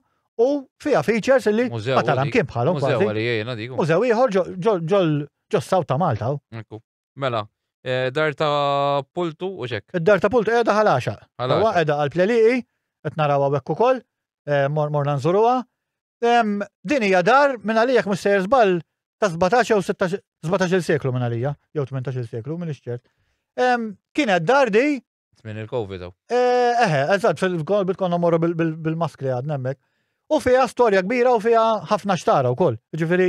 u fiha features li ma taram kien bħalhom kważi. Mużew ieħor ġol ġol ġos-South ta' Malta. Mela, eh, dar ta' pultu u xek. Id-dar ta' pultu qiegħda ħalaxa. Ħalaxa. Qiegħda għal pleliqi, qed naraw hawnhekk ukoll, eh, morna nżuruha. Din hija dar minn għalija mhux sejjer żball ta' 17 jew 17 seklu minn għalija, jew 18 seklu, minn ixċert. Kienet dar di Minn il-Covid hawn. Eh, eħe, eżatt, fil-kol bitkonna morru bil-maskri għad nemmek. U fija storja kbira u fija ħafna xtara u koll. Ġifiri,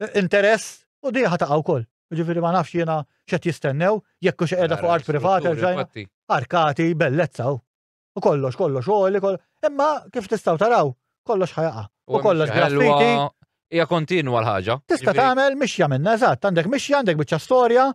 eh, interess u diħa ta' u koll. Ġifiri ma nafx jena xet jistennew, jekku xe edha fuq art privata, arkati, bellezza u. U kollox, kollox, u li kollox. Imma kif tistaw taraw, kollox ħajaqa. U kollox graffiti. Ija kontinwa l-ħagġa. Tista tagħmel mixja minna, eżatt, għandek mixja, għandek biċċa storja,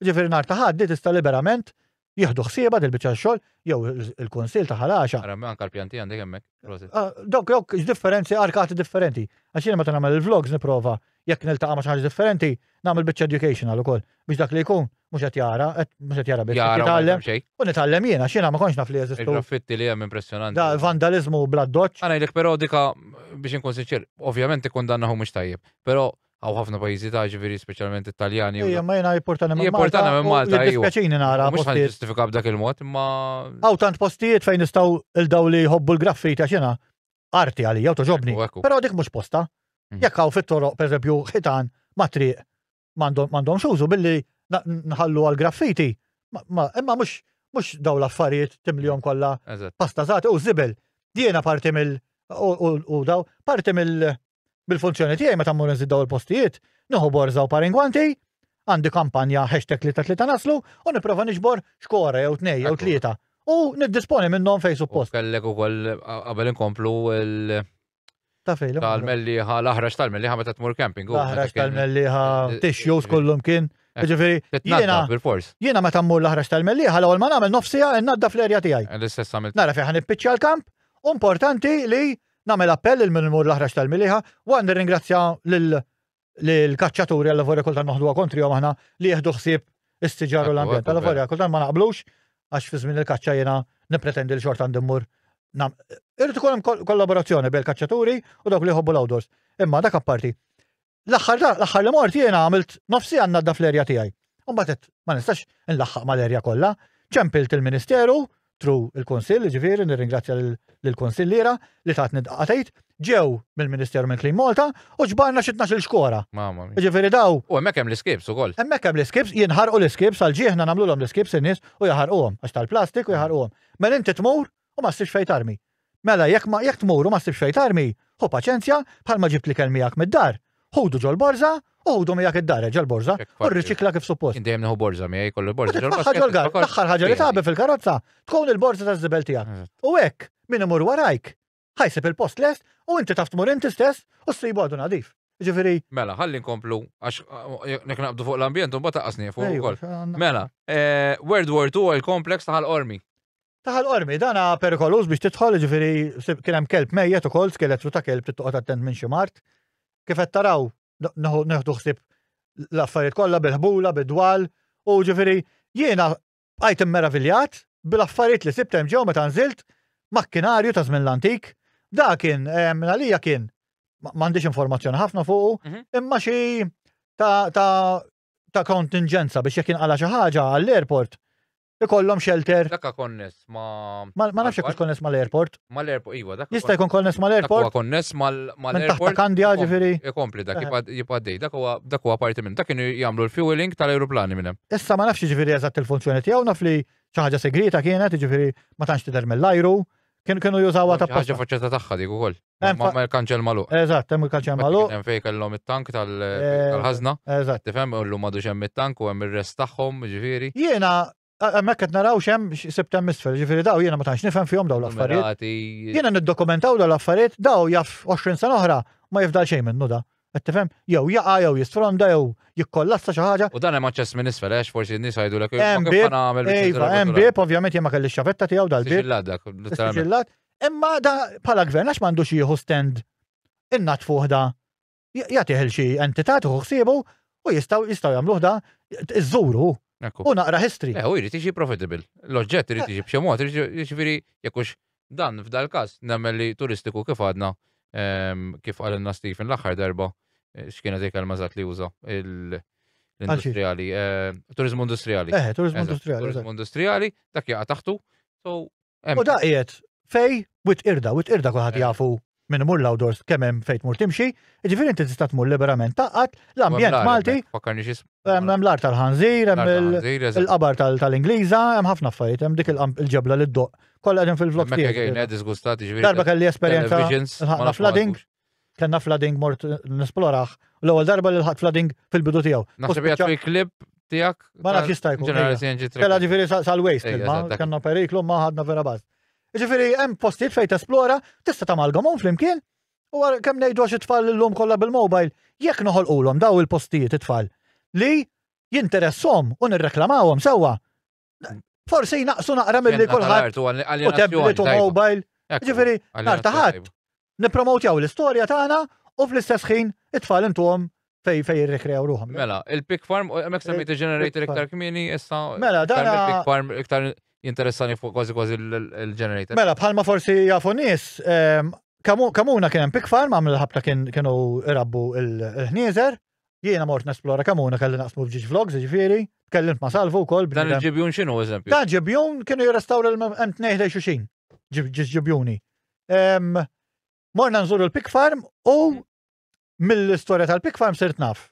Ġifieri nhar ta' Ħadd tista' liberament jieħdu ħsieba dil biċċa xogħol jew il-Kunsill ta' Ħalaxa. Ara anke l-pjanti għandek hemmhekk. Ah, dok dok differenzi arkati differenti. Għax jiena meta nagħmel il-vlogs nipprova jekk niltaqa' ma' xi ħaġa differenti nagħmel biċċa educational ukoll biex dak li jkun mhux qed jara, mhux qed jara biss jitgħallem. U nitgħallem jiena x'jiena ma kontx naf li jeżistu. Graffitti li hemm impressjonanti. Da vandaliżmu bla doċċ. Għana jlek però dika biex inkun sinċir, ovvjament ikun dannaħu mhux tajjeb, però Għaw ħafna pajizi ta' ġviri, specialment italjani. Ija, ma jena jipportana minn Malta. Jipportana minn Malta. Dispjaċini nara. Mux ħan ġustifika b'dak il-mod, ma. Għaw tant postijiet fejn nistaw il-daw li jħobbu l-graffi ta' xena. Arti għalli, għaw toġobni. Pero dik mux posta. Mhm. Jekk għaw fit-toroq, per eżempju, ħitan, ma triq, mandom xużu billi nħallu għal-graffiti. Imma mux mux daw l-affarijiet timlijom mhm. kolla pasta zati u zibel. Diena parti mill- u daw, parti mill- Bil-funzjoni tiegħi meta mmur nżid daw il-postijiet, nieħu borża u paringwanti, għandi kampanja hashtag li ta' tlieta naslu u nipprova niġbor xkora jew tnej jew tlieta u niddisponi minnhom fejn suppost. Kellek ukoll qabel inkomplu l- Tafejlu. Tal-melliħa, l-aħraġ tal-melliħa meta tmur camping. L-aħraġ tal-melliħa, tissues kollum kien. Eh, Ġifiri, jiena, jiena meta mmur l-aħraġ tal-melliħa, l-ewwel ma nagħmel nofsija nadda fl-erja tiegħi. L-istess għamil. Nara fejn ħan l-kamp, importanti li Nagħmel appell lil min imur l-aħrax tal-miliħa waqt nirringrazzja lill-kaċċaturi allavolja kultant noħduha kontrihom aħna li jieħdu ħsieb is-siġar u l-ambjent. Allavolja kultant ma naqblux għax fi żmien il-kaċċa jiena nippretendi li xorta għandi mmur Irrid ikun hemm kollaborazzjoni bejn kaċċaturi u dawk li jħobbu l-outdoors. Imma dak apparti, L-aħħar l-aħħar li mort jiena għamilt nofsi għandna daf l-erja tiegħi. Mbagħad ma nistax inlaħħaq mal-erja kollha, ċempilt il-Ministeru, tru il-Kunsill, ġifieri nirringrazzja lill-Kunsilliera li tatni dqatejt, ġew mill-Ministeru minn Clean Malta u ġbarna xi tnax il-xkora. Mamma mia. Ġifieri daw. U hemmhekk hemm l-iskips ukoll. Hemmhekk hemm l-iskips, jinħarqu l-iskips għal ġieħna nagħmluhom l-iskips in-nies u jaħarquhom għax tal-plastik u jaħarquhom. Mela inti tmur u ma ssibx fejn tarmi. Mela jekk ma, jekk tmur u ma ssibx fejn tarmi, ħu paċenzja, bħalma ġibt l-ikel miegħek mid-dar, ħudu ġol-borża u ħudu miegħek id-dar, reġa' l-borża, u rriċikla kif suppost. Jien dejjem nieħu borża miegħi, kollu l-borża ġol-baskett. U titfagħha ġol-gar, l-aħħar ħaġa li tagħbi fil-karozza tkun il-borża taż-żibel tiegħek. U hekk, min imur warajk, ħa jsib il-post lest u inti taf tmur inti stess u ssibu għadu nadif. Jiġifieri. Mela, ħalli nkomplu, għax jekk naqbdu fuq l-ambjent u mbagħad taqqas nieqfu wkoll. Mela, World War II oil complex ta' ħal-qormi. Taħal qormi, dan perikoluż biex tidħol, ġifiri, kien hemm kelb mejjet ukoll, skeletru ta' kelb tittoqgħod attent minn xi mart. Kif qed taraw, neħdu ħsib l-affarijiet kollha bil-ħbula, bid-dwal, u ġifiri, jiena bqajt immeraviljat bil-affarijiet li sibt hemm ġew meta nżilt makkinarju ta' żmien l-antik. Da kien, minn għalija kien, m'għandix informazzjoni ħafna fuqu, mhm. imma xi ta' kontingenza biex jekk inqala xi ħaġa għall-airport ikollhom shelter. Dakka konness ma. Ma nafx jekk konness mal-airport. Mal-airport, iva, dakka. Jista' jkun konness mal-airport. Dakka konness mal-airport. Kandja ġifieri. Ikompli dak jibgħaddej, dak huwa dak huwa parti minn dak kienu jagħmlu l-fueling tal-ajruplani minn hemm. Issa ma nafx ġifieri eżatt il-funzjoni tiegħu naf li xi ħaġa segreta kienet, ġifieri ma tantx tidher mill-ajru, Kienu kienu jużawha ta' Ħaġa faċċetta tagħha dik ukoll. Ma l-kanċell magħluq. Eżatt, hemm il-kanċell magħluq. Hemm fejn kellhom it-tank tal-ħażna. Eh, eżatt. Tifhem illum m'għadux hemm it-tank u hemm ir-rest tagħhom, ġifieri. Jiena Mek qed naraw xem sibtem misfer, ġifiri daw jiena ma tantx nifhem fihom daw l-affarijiet. Jiena niddokumentaw daw l-affarijiet, daw jaf 20 sena oħra ma jifdal xejn minnu da. Qed tifhem? Jew jaqa' jew jisfronda jew jikkollassa xi ħaġa. U dan hemm aċċess minn isfel għax forsi n-nies jgħidulek Hemm bieb, iva, hemm bieb, ovvjament jien ma kellix xavetta tiegħu dal-bieb. Siġillat dak, literalment. Siġillat. Imma da bħala gvern għax m'għandux jieħu stand innatfuh da jagħtih il xi entità tieħu ħsiebu u jistgħu jistgħu jagħmluh da iżżuru u naqra history. Eh, u jrid jiġi profitable. L-oġġett irid jiġi b'xi mod, jiġifieri jekk hux Dan f'dal-każ nemmen li turistiku kif għadna, kif qalilna Stephen l-aħħar darba, x'kienet il-kelma eżatt li uża, l-industrijali, turiżmu industrijali. Eħe, turiżmu industrijali. Turiżmu industrijali, dak jaqa' taħtu. U dak qiegħed fejn witqirda, witqirda kulħadd jafu. Min imur l-outdoors kemm hemm fejn tmur timxi, jiġifieri inti tista' tmur liberament taqgħad l-ambjent Malti. Hemm l-art tal-ħanżir, hemm il-qabar tal-Ingliża, hemm ħafna affarijiet, hemm dik il-ġebla li ddoqq. Kollha qegħdin fil-vlog tiegħi. Darba kelli esperjenza ħafna flooding, kellna flooding mort nesploraħ, l-ewwel darba li ħadd flooding fil-bidu tiegħu. Naħseb jgħid fil-klib tiegħek. Ma nafx jista' jkun. Kellha ġifieri sal-waste, kellna periklu ma ħadna vera baż. Ġifiri, hemm postijiet fejn tesplora, tista' tamalgamhom flimkien, u kemm ngħidu għax it-tfal illum kollha bil-mobile, jekk noħolqulhom daw il-postijiet it-tfal li jinteressom u nirreklamawhom sewwa. Forsi naqsu naqra milli kulħadd u tablet u mobile. Ġifiri, nartaħat, nippromotjaw l-istorja tagħna u fl-istess ħin it-tfal intuhom fej fej jirrikrew ruħom. Mela, il-Pig Farm, mek semmejt il-generator iktar kmini, issa. Mela, dan. Il-Pig Farm iktar interessani fuq kważi kważi il-generator. Mela, bħalma forsi jafu nis, ehm, kamuna kien hemm Pig Farm, għamil l-ħabta kienu irabbu il-ħnieżer. Jiena mort nesplora kamuna kelli naqsmu bġiġ vlogs, ġifiri, kellimt ma salvu kol. Dan il-ġibjun xinu, eżempju? Dan ġibjun kienu jirrestawra l-mt nejħlej xuxin, ġibjuni. Morna nżuru l-Pig Farm u mm. mill-istorja tal-Pig Farm sirt naf.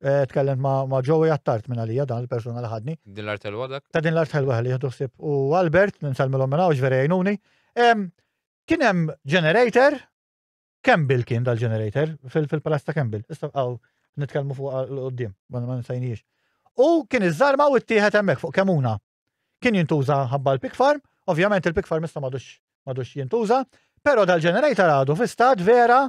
Eh, tkellem ma' Joey għattart minn għalija dan il-persona li ħadni. Din l-art ħelwa dak? Ta' din l-art ħelwa li jħdu sib. U Albert, ninsalmilom minna u ġveri għajnuni. Kien hemm generator, Campbell kien dal-generator fil-palazz ta' Campbell. Issa għaw nitkellmu fuq l-qoddim, ma nisajniex. U kien iż-żarma u t-tieħed hemmhekk fuq kemuna. Kien jintuża ħabba l-pig farm, ovvjament il-pig farm issa madux madux jintuża, pero dal-ġenerejta għadu fi stat vera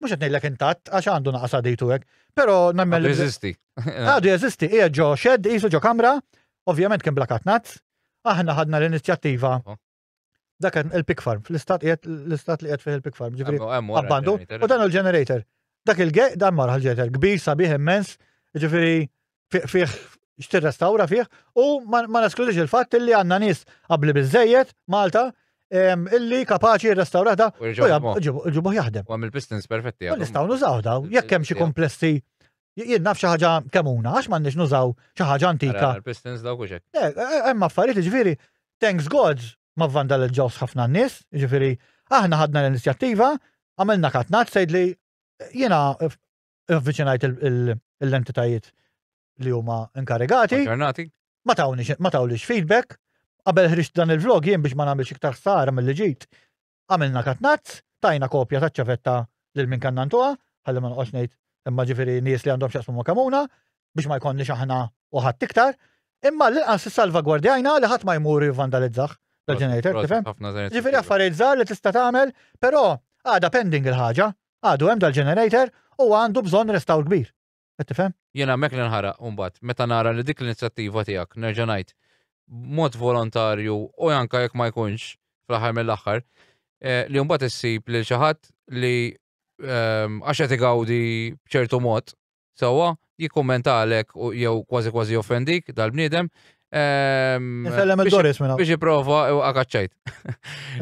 mux għetnejlek intat, għax għandu naqas għaditu għek, pero nammel. Jeżisti. Għadu jeżisti, ija ġo xed, jisu ġo kamra, ovvjament kien blakat nazz, aħna ħadna l-inizjattiva oh. Dak il-pig farm, fl-istat l-istat li qed fih il-pig farm, ġifieri abbandu. U dan il-generator. Dak il-gej dan marħal ġeter kbir sabiħ immens, ġifieri fih x'tirrestawra fih u ma naskludix il-fatt li għandna nies qabli biżejjed Malta illi kapaċi restaurata u ġibuħ jaħdem. U għamil pistons perfetti. U nistaw nużaw daw, jekk hemm xi komplessi Jien naf xi ħaġa kemuna, għax m'għandniex nużaw xi ħaġa antika. Pistons dawk u xek. Eh, eh, hemm affarijiet ġifieri, thanks God ma vandalizzawx ħafna n-nies, ġifieri aħna ħadna l-inizjattiva, għamilna katnat sejdli jiena avviċinajt l-entitajiet li huma inkarigati. Ma tawlix feedback. Qabel ħriġt dan il-vlog jien biex ma nagħmilx iktar ħsara mill-li ġejt. għamilna katnazz, tajna kopja taċ-ċavetta lil min kellna ntuha, ħalli ma noqgħodx ngħid imma ġifieri nies li għandhom x'jaqsmu ma' Kamuna biex ma jkollniex aħna u ħadd iktar, imma l-inqas issalvagwardjajna li ħadd ma jmur jivvandalizzah l-ġenerator, tifhem? Ġifieri affarijiet żgħar li tista' tagħmel, però għadha pending il-ħaġa, għadu hemm dal-ġenerator u għandu bżonn restawr kbir. Qed tifhem? Jien hemmhekk li nħaraq imbagħad meta nara li dik l-inizjattiva tiegħek nerġa' ngħid b'mod volontarju u anke jekk ma jkunx fl-aħħar mill-aħħar eh, li mbagħad issib lil xi ħadd li ehm, għax qed igawdi b'ċertu mod sewwa jikkummenta għalek jew kważi kważi offendik dal-bniedem, Nsellem il-Doris minna. Biex jiprofa u għakaċċajt.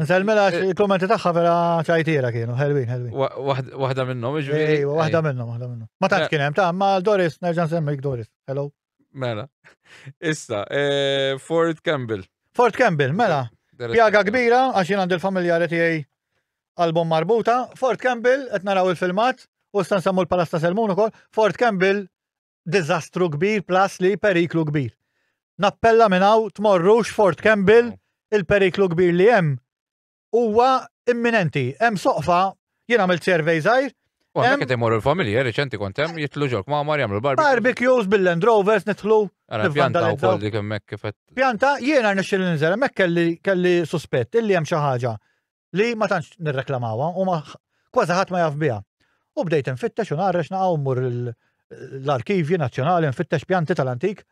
Nsellem mela il-kommenti taħħa vera ċajtira kienu, ħelwin, ħelwin. Wahda minnom, ġviri. Wahda minnom, wahda minnom. Ma taħt eh. kienem, ta' ma Doris, nerġan semmik Doris. Hello. Mela. Issa, eh, Fort Campbell. Fort Campbell, mela. Pjaga kbira, għax jien għand il-familjari tiegħi album marbuta. Fort Campbell, qed naraw il-filmat, u stan sammu l-palasta Selmun ukoll. Fort Campbell diżastru kbir plus li periklu kbir. Nappella minn hawn tmorrux Fort Campbell il-periklu kbir li hemm huwa imminenti. Hemm soqfa jien għamilt survey żgħir. Għamma kiet imorru l-familja, reċenti kontem, jitlu ġol kmamar, jamlu l-barbecue. Barbecues bil-Land Rovers nitħlu. Pjanta u kolli kemmek kifet. Pjanta, jiena nixxil nizela, mek kelli suspett, illi jem xaħġa. li ma tantx nirreklamawha u ma kważi ħadd ma jaf biha. U bdejt infittex u narrex naqgħu mmur l-arkivji nazzjonali nfittex pjanti tal-antik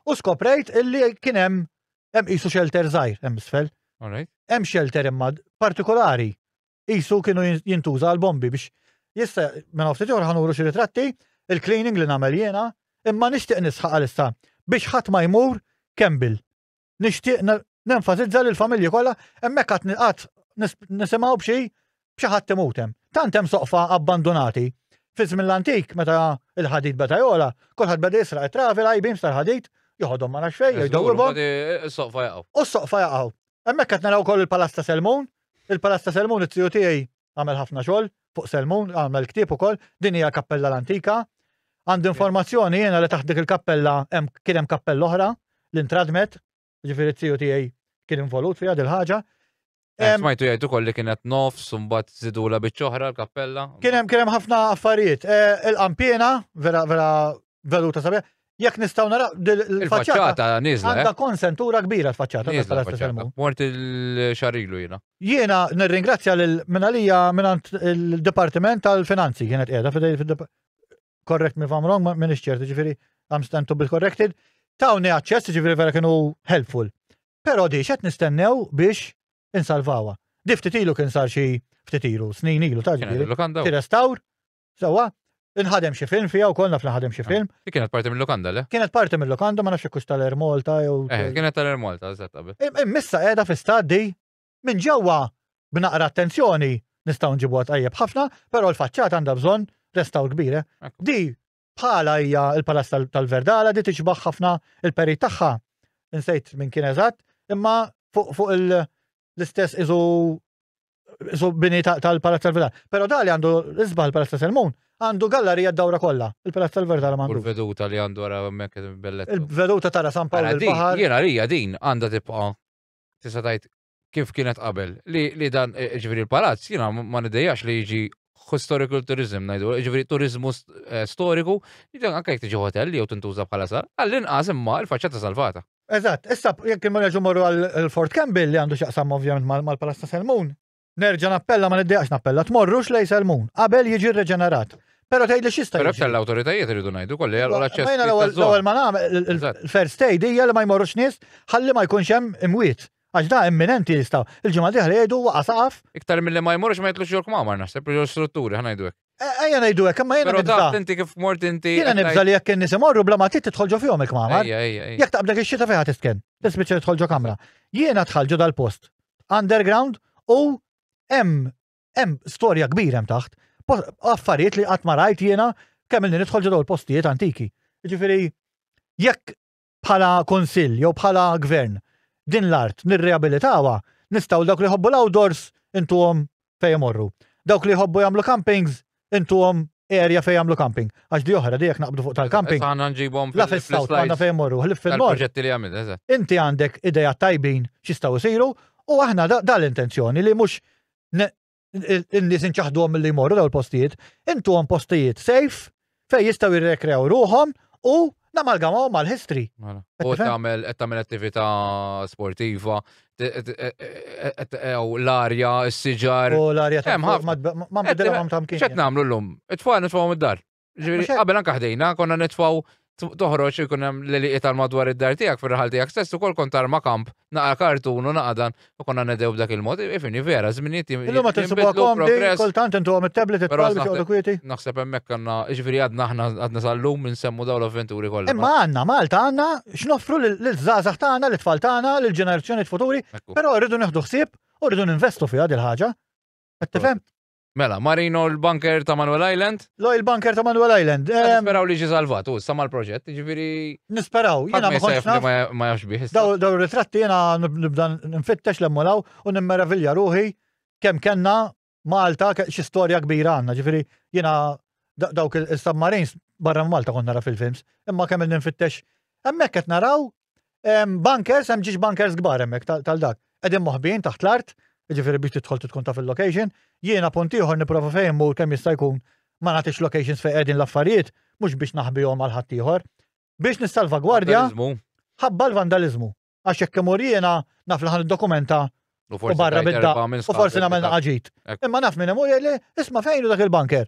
u skoprejt illi kien hemm hemm qisu xelter żgħir hemm isfel. Hemm xelter imma partikolari qisu kienu jintuża għal bombi biex jista' minn ftit ieħor ħanuru xi ritratti il-cleaning li nagħmel jiena imma nixtieq nisħaq għalissa biex ħadd ma jmur Kembil. nixtieq nenfasizza li l-familji kollha hemmhekk qatt qatt nisimgħu b'xi b'xi ħadd imut hemm. Tant hemm soqfa abbandunati. Fi żmien l-antik meta il-ħadid beta jola, kulħadd beda jisraq it-travi l-għajbin tal-ħadid, joħodhom ma nafx fejn, jgħidhom. Is-soqfa jaqgħu. U s-soqfa jaqgħu. Hemmhekk qed naraw ukoll il-Palazz ta' Selmun, il-Palazz ta' Selmun it-tiju tiegħi għamel ħafna xogħol fuq Selmun, għamel ktieb ukoll, din hija kappella l-antika. Għandi informazzjoni jiena li taħt dik il-kappella kien hemm kappella oħra li ntradmet, ġifieri t-tiju tiegħi kien involut fiha dil ħaġa eh, Smajtu jgħidu kolli kienet nofs, mbagħad zidula biċ-ċoħra l-kappella. Kien hemm kien hemm ħafna affarijiet. Eh, il-qampina, vera vera veluta sabiħ, Jekk nistgħu naraw il-faċċata niżla. Għandha eh? konsentura kbira l-faċċata tal-istess Mort il-xarilu jiena. Jiena nirringrazzja lil minalija minn il-Dipartiment tal-Finanzi kienet qiegħda fidej korrekt mi fam wrong minn iċċerti ġifieri I'm stand to be corrected. Tawni aċċess ġifieri vera kienu helpful. Però di qed nistennew biex insalvawa. Di ftit ilu kien sar xi ftit ilu, snin ilu ta' ġifieri. Tirestawr Sewa, inħadem xi film fija wkoll naf naħadem xi film. Li kienet parti mill-lokanda, le? Kienet parti mill-lokanda ma nafx kux tal-Air Malta jew. Eh, kienet tal-Air Malta, eżatt qabel. Immissa qiegħda fi staddi minn ġewwa b'naqra attenzjoni nistgħu nġibu tajjeb ħafna, però l-faċċat għandha bżonn restaw kbire. Eh? Di bħala hija l-Palas tal-Verdala di tiġbaħ ħafna il-peri tagħha. Insejt minn kien eżatt, imma fuq l-istess iżu su bini tal-Palazz tal-Verdal. Pero da li għandu isbaħ il-Palazz ta' Selmun, għandu gallerija d-dawra kollha, il-Palazz tal-Verdal għandu. Il-veduta li għandu għara hemmhekk bellet. Il-veduta tara San Pawl il-Baħar. Jiena rija din għandha tibqa' tista' tgħid kif kienet qabel. Li dan e, e, ġifieri l-palazz jiena ma nidejjax li jiġi historical tourism ngħidu, e, ġifieri turizmu storiku, anke jekk tiġi hotel jew tintuża bħala sar, għall-inqas imma l-faċċata salvata. Eżatt, issa jekk imma nerġgħu morru għal Fort Campbell li għandu x'jaqsam ovvjament mal-Palazz ta' Selmun, nerġa' nappella ma niddejaqx nappella, tmorrux lejn Selmun qabel jiġi rreġenerat. Però tgħidli x'jista' jiġri. Però l-awtoritajiet iridu ngħidu wkoll li jagħlqu l-aċċess. Mejna l-ewwel ma nagħmel il-first aid hija li ma jmorrux nies ħalli ma jkunx hemm imwiet. Għax da imminenti jistgħu. Il-ġimgħa diħla jgħidu waqa' saqaf. Iktar milli ma jmorrux ma jitlux jolk mamar naħseb li strutturi ħanajdu hekk. Ejja ngħidu hekk, imma jiena nibża. Inti kif mort inti. Jiena nibża li jekk in-nies imorru bla ma tidħol ġo fihom il-kmamar. Jekk taqbdek ix-xita fejn ħadd isken. Tispiċċa tidħol ġo kamra. Jiena dħal ġo dal-post underground u hemm hemm storja kbira hemm taħt. Affarijiet li qatt ma rajt jiena kemm ilni nidħol ġo dawl postijiet antiki. Jiġifieri jekk bħala Kunsill jew bħala Gvern din l-art nirriabilitawha, nistgħu dawk li jħobbu l-outdoors intuhom fejn imorru. Dawk li jħobbu jagħmlu campings intuhom area fejn jagħmlu camping. Għax di oħra di jekk naqbdu fuq tal-camping. Għandna nġibhom la fis-south għandna fejn morru, ħlif fil-nord. li għamil, Inti għandek ideja tajbin x'jistgħu jsiru u aħna dal-intenzjoni li mhux in-nies inċaħduhom milli jmorru daw il-postijiet, intuhom postijiet safe fej jistgħu jirrekrew ruħhom u namalgamaw mal-history. Mela. U tagħmel qed tagħmel attività sportiva, l-arja, s-siġar. U l-arja ta' ma bidilhom tamkien. X'qed nagħmlu llum? It-tfal nitfgħu mid-dar. Ġifieri qabel anke ħdejna konna nitfgħu toħroġ ikun hemm l-eliqi tal-madwar id-dar tiegħek fir-raħal tiegħek stess ukoll kont arma kamp naqa' kartun u naqadan u konna nedew b'dak il-mod. Ifini vera żminijiet Illum ma tinsibuha komdi, kultant intu għom it-tablet it-tfal biex joqgħodu kwieti. Naħseb hemmhekk għandna ġifieri għadna aħna għadna sal-lum insemmu dawn l-avventuri kollha. Imma għandna Malta għandna x'noffru lill-żgħażagħ tagħna, lit-tfal tagħna, lill-ġenerazzjoni futuri, però rridu neħdu ħsieb u rridu ninvestu fiha dil-ħaġa. Qed tifhem? Mela, Marino l-bunker ta' Manuel Island? Lo il-bunker ta' Manuel Island. Nisperaw li ġi salvat, u sama l-proġett, ġifiri. Nisperaw, jena ma konċ naf. Ma jafx biħ. Daw ritratti jena nibda nfittex l-emmolaw u nimmeravilja ruħi kem kenna Malta xi storja kbira għanna, ġifiri jena dawk il-submarines barra Malta konna nara fil-films, imma kemm il-ninfittex. Emmek qed naraw Bunkers, hemm ġiex bunkers kbar hemmhekk tal-dak. Qegħdin moħbin taħt l-art, jiġifieri biex tidħol tkun taf il-location. Jiena punt ieħor nipprova fejn mur kemm jista' jkun ma nagħtix locations fejn qegħdin l-affarijiet mhux biex naħbihom għal ħadd ieħor. Biex nissalvagwardja ħabba l-vandalizmu. Għax jekk imur jiena naf li ħan dokumenta u barra bidda u forsi nagħmel naqaġit. Imma naf minn imur jgħidli isma' fejn dak il-bunker.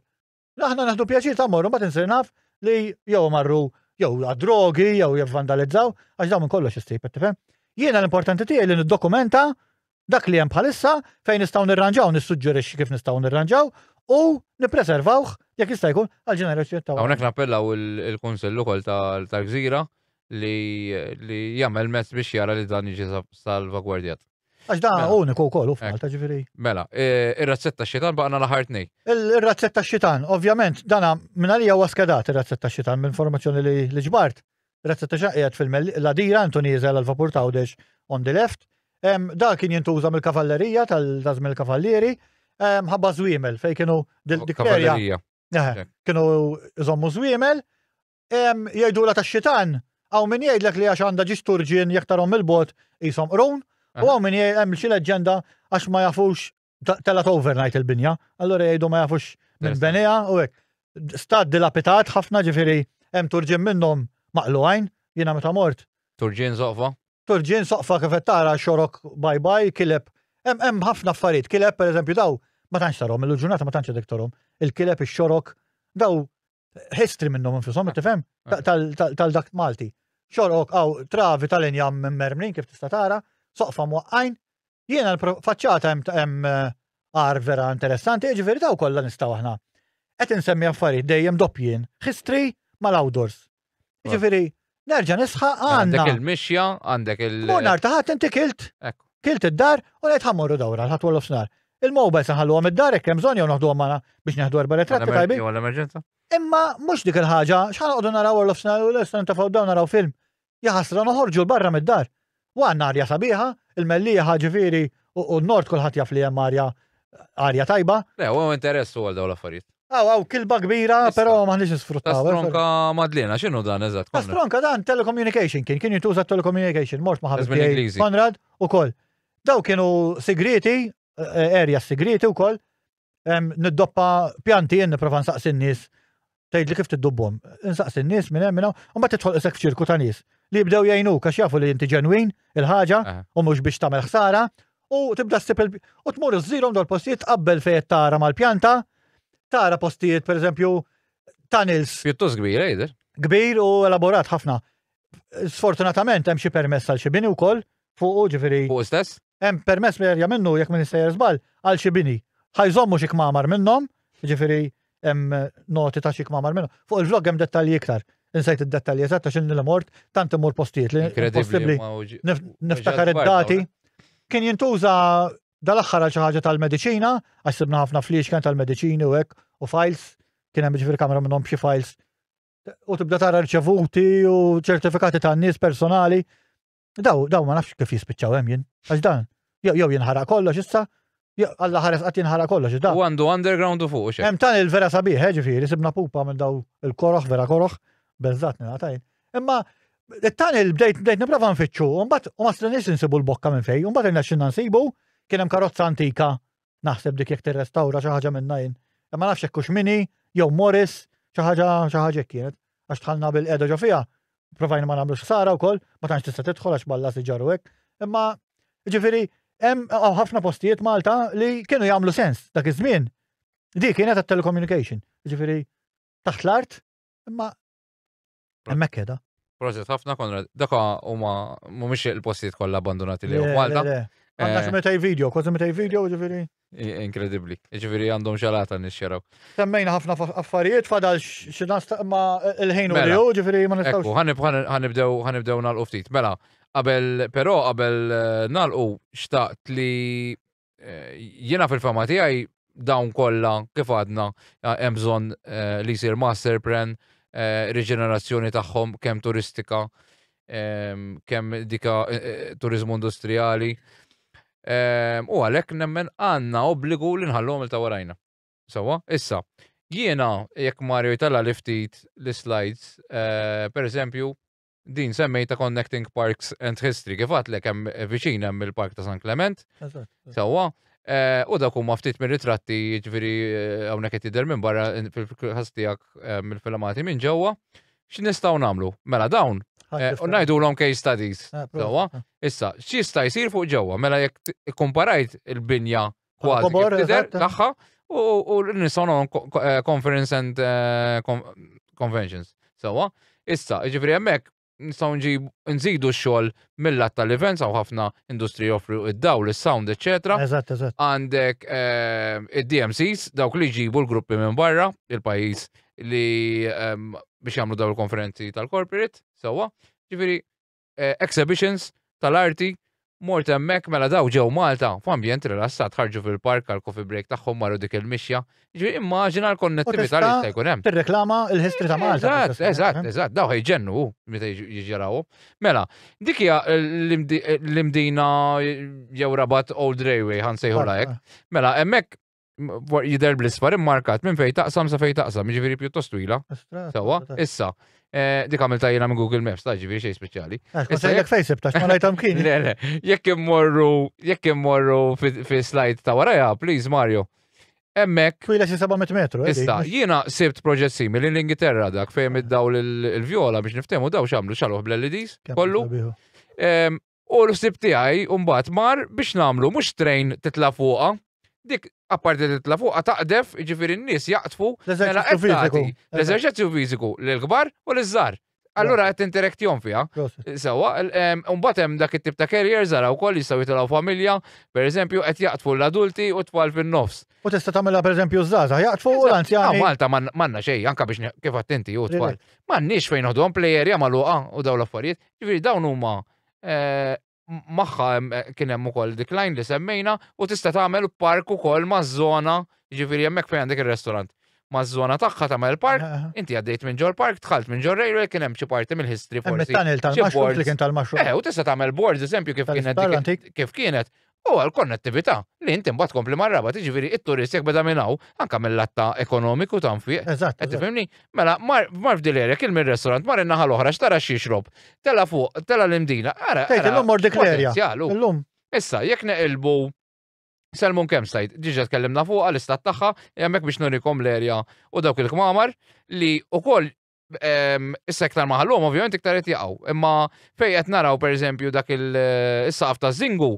Aħna naħdu pjaċir ta' morru ma tinsir naf li jew marru jew għad-drogi jew jivvandalizzaw għax dawn minn kollox issib qed tifhem. Jiena l-importanti tiegħi li niddokumenta dak li hemm bħalissa fejn nistgħu nirranġaw nissuġġerixxi kif nistgħu nirranġaw u nippreservawh jekk jista' jkun għal ġenerazzjoni ta' Hawnhekk nappellaw il-Kunsill ukoll tal-Gżira li jagħmel mezz biex jara li dan jiġi salvagwardjat. Għax da mela. uniku wkoll u f'Malta eh. ġifieri. Mela, e, ir-razzetta xitan baqna l-aħħar tnej. Ir-razzetta xitan, ovvjament, dana minn għalija huwa skedat ir-razzetta xitan minn informazzjoni li ġbart. Razzetta xitan qiegħed fil-ladira intu nieżel għal vapur tawdex on the left. Da kien jintuża mill-kavallerija tal-żmien il-kavallieri ħabba żwiemel fejn kienu dik Kienu żwiemel Ehm, jgħidula tax-xitan, hawn min jgħidlek li għax għandha ġiex turġien jekk tarhom il-bot qishom qrun, u hawn min jgħid hemm xi leġġenda għax ma jafux telat overnight il-binja, allura jgħidu ma jafux minn benija u hekk. Stat dilapitat ħafna ġifieri hemm turġien minnhom maqlu għajn, jiena meta mort. Turġien soqfa? Turġien soqfa kif qed tara xorok bye bye, kileb. Hemm ħafna affarijiet, kileb pereżempju daw ma tantx tarhom, il-ġurnata ma tantx dik tarhom. Il-kileb ix-xorok daw history minnhom infushom, ah, tifhem? Ah. Tal-dak Malti. Xorok għaw travi tal-injam minn mermrin kif tista' tara, soqfa mwaqqajn. Jiena l-faċċata hemm eh, għar vera interessanti, ġifieri daw kollha nistgħu aħna. Qed insemmi affarijiet dejjem doppjien, history mal-outdoors. Ġifieri Nerġa' nisħaq għandna. Għandek il-mixja, għandek il- Mur nar taħat inti kilt. Kilt id-dar u lejt ħammorru dawra ħadd wolof snar. Il-mobile se nħalluhom id-dar hekk hemm bżonn jew noħduhom magħna biex neħdu erba' retratti tajbin. Jew l-emerġenza. Imma mhux dik il-ħaġa, x'ħanqogħdu naraw wolof snar u l-istan tafgħu dawn naraw film. Jaħasra noħorġu l-barra mid-dar. U għandna arja sabiħa, il-mellieħa ġifieri u n-nord kulħadd jaf li hemm arja arja tajba. Le, u interess u għal dawn l-affarijiet. Aw, aw, kilba kbira, però maħniex isfruttaw. Eh, Stronka Madlina, x'inhu dan eżatt? Stronka dan telecommunication kien, kien jintuża telecommunication, mort ma' ħabib Konrad ukoll. Daw kienu sigriti, eh, area sigriti wkoll, niddoppa pjanti jien niprofa nsaqsi n-nies tgħid li kif tiddubbhom. Insaqsi n-nies minn hemm minn hawn, u mbagħad tidħol isek f'ċirku ta' nies li jibdew jgħinu għax jafu li inti ġenwin il-ħaġa u mhux biex tagħmel ħsara u tibda ssib il u tmur iżżirhom dol postijiet qabel fejn tara mal-pjanta, tara postijiet pereżempju tunnels. Pjuttost kbir, ejder. Kbir u elaborat ħafna. Sfortunatament hemm xi permess għal xi bini wkoll fuq ġifieri. Fuq stess? Hemm permess li jerja minnu jekk minn sejjer żball għal xi bini. Ħajżommu xi kmamar minnhom, ġifieri hemm noti ta' xi kmamar minnhom. Fuq il-vlog hemm dettalji iktar. Insejt id-dettalji eżatt għax inni mort tant imur postijiet li possibbli niftakar id-dati. Kien jintuża dal-aħħar għal xi ħaġa tal-mediċina, għax sibna ħafna flix kien tal-mediċini u hekk u files, kien hemm ġifieri kamra minnhom b'xi files u tibda tara rċevuti u ċertifikati ta' nies personali. Daw, daw ma nafx kif jispiċċaw hemm jien. Għax dan, jew jew jinħaraq kollox issa, jew alla ħares qatt jinħaraq kollox issa. U għandu underground u fuq xejn. Hemm tan il-vera sabiħ, eh, ġifieri, sibna pupa minn daw il-koroħ, vera koroħ, beżżat ningħatajn. Imma tan il-bdejt bdejt nipprova nfittxu, u mbagħad u ma strinix insibu l-bokka minn fejn, u mbagħad irnexxinna nsibu kien hemm karozza antika Naħseb dik jekk tirrestawra xi ħaġa minnha jien. Imma nafx hekk hux mini jew Morris xi ħaġa xi ħaġa hekk kienet. Għax tħallna bil-qiegħda ġo fiha, provajna ma nagħmlux ħsara wkoll, ma tantx tista' tidħol għax balla si ġarru hekk. Imma ġifieri hemm ħafna postijiet Malta li kienu jagħmlu sens dak iż-żmien. Dik kienet għat-telecommunication, ġifieri taħt l-art, imma Hemmhekk keda. Proset ħafna Konrad. Daka huma mhumiex il-postijiet kollha abbandonati li huma Malta. Għandna xi meta video, kważi meta video, ġifieri. Inkredibbli. Ġifieri għandhom xalata nixxeraw. Semmejna ħafna affarijiet fadal xi ma il-ħin u jew ġifieri ma nistgħux. Ekku, ħanibdew ħanibdew nagħlqu ftit. Mela, qabel però qabel nagħlqu xtaqt li Eh, jiena fil-fema tiegħi dawn kollha kif għadna eh, hemm bżonn eh, li jsir master plan, riġenerazzjoni tagħhom kemm turistika, ehm, kemm dika turizmu industrijali. Ehm, u għalhekk nemmen għandna obbligu li nħallhom il tawarajna. Sawa, issa, jiena jekk Mario jitalla li ftit l-slides, per eżempju, din semmejta Connecting Parks and History, kif għatlek hemm viċin hemm il-Park ta' San Clement. Sewwa. Eh, u dak huma ftit minn ritratti jiġifieri eh, hawnhekk qed jidher minn barra fil-każ tiegħek eh, mill-filmati minn ġewwa. X'nistgħu nagħmlu? Mela dawn u ngħidulhom case studies. Sewwa. Issa, x'jista' jsir fuq ġewwa? Mela jekk ikkumparajt il-binja kważi kif tidher tagħha u l-nison eh, conference and eh, conventions. Sawa, issa, ġifri hemmhekk nistgħu nġib nżidu x-xogħol mill-lat tal-events għaw ħafna industri joffru id-dawl, is-sound, etc. Eżatt, eżatt. Għandek eh, id-DMCs, dawk li ġibu l-gruppi minn barra, il-pajjiż li ehm, biex jagħmlu daw il-konferenzi tal-corporate, sewwa. Ġifieri eh, exhibitions tal-arti mort hemmhekk mela daw ġew Malta f'ambjent rilassat ħarġu fil-park għal coffee break tagħhom marru dik il-mixja. Ġifieri immaġina l-konnettività li jista' jkun hemm. Tirreklama l-history ta' Malta. Eżatt, eżatt, eh? eżatt, daw ħejġennu meta jiġġaraw. Mela, dik hija l-imdina jew rabat Old Railway ħansejħu lajk. Mela, hemmhekk jider bl-isfar immarkat minn fej taqsam sa fej taqsam, ġifiri pjuttost twila. Sawa, issa, eh, dik għamil tajjena minn Google Maps, ta' ġifiri xej speċjali. Eh, issa jek fejsib ta' xma lajtam kien. Le, le, jek immorru, jek immorru fi slide ta' waraja, please Mario. Emmek. Twila xi 700 metru. Eh, issa, jiena sibt proġett simili l-Ingilterra dak fejn id-dawl il-vjola biex niftemu daw xamlu xaluħ bl-LEDs kollu. U l-ħsib tiegħi mbagħad mar biex nagħmlu mhux train titla' fuqha, dik apparti titla' fuqha taqdef, jiġifieri n-nies jaqtfu mela l-eżerċizzju fiżiku lill-kbar u liż-żgħar. Allura qed tinterektihom fiha. Sewwa, mbagħad hemm dak it-tip ta' carriers ara wkoll jistgħu jitilgħu familja, pereżempju qed jaqtfu l-adulti u t-tfal fin-nofs. U tista' tagħmilha pereżempju ż-żgħażagħ jaqtfu u l-anzjani. Malta m'għandna xejn anke biex kif għedt inti u t-tfal. M'għandniex fejn noħduhom play area magħluqa u dawn l-affarijiet. Ġifieri dawn huma magħha kien hemm ukoll decline li semmejna u tista' tagħmel park ukoll maż-żona, ġifieri hemmhekk fejn għandek ir-restaurant. Maż-żona tagħha tagħmel park, inti għaddejt minn ġol park, dħalt minn ġol railway kien hemm xi parti mill-history forsi. Hemm it-tunnel tal-mushroom li kien tal-mushroom. Eh, u tista' tagħmel boards, eżempju kif kienet kif kienet. u għall-konnettività, li inti mbagħad tkompli mar-Rabat, jiġifieri t-turist jekk beda minn hawn, anke mill-lat ta' ekonomiku ta' nfiq. Eżatt. Qed tifhimni? Mela mar mar f'dil area, kil mir-restaurant, mar in-naħa l-oħra x'tara x'jixrob, tela' fuq, tela' l-Imdina, ara, ara, x'potenzjal hu. Tgħid illum mor dik l-area. Illum. Issa, jekk neqilbu Salmon Campsite, diġà tkellimna fuqha, l-istat tagħha, hija hemmhekk biex nurikom l-area u dawk il-kmamar li wkoll Issa iktar maħallum, ovvjament iktar qed jaqgħu. Imma fejn qed naraw pereżempju dak il-saqaf ta' Zingu,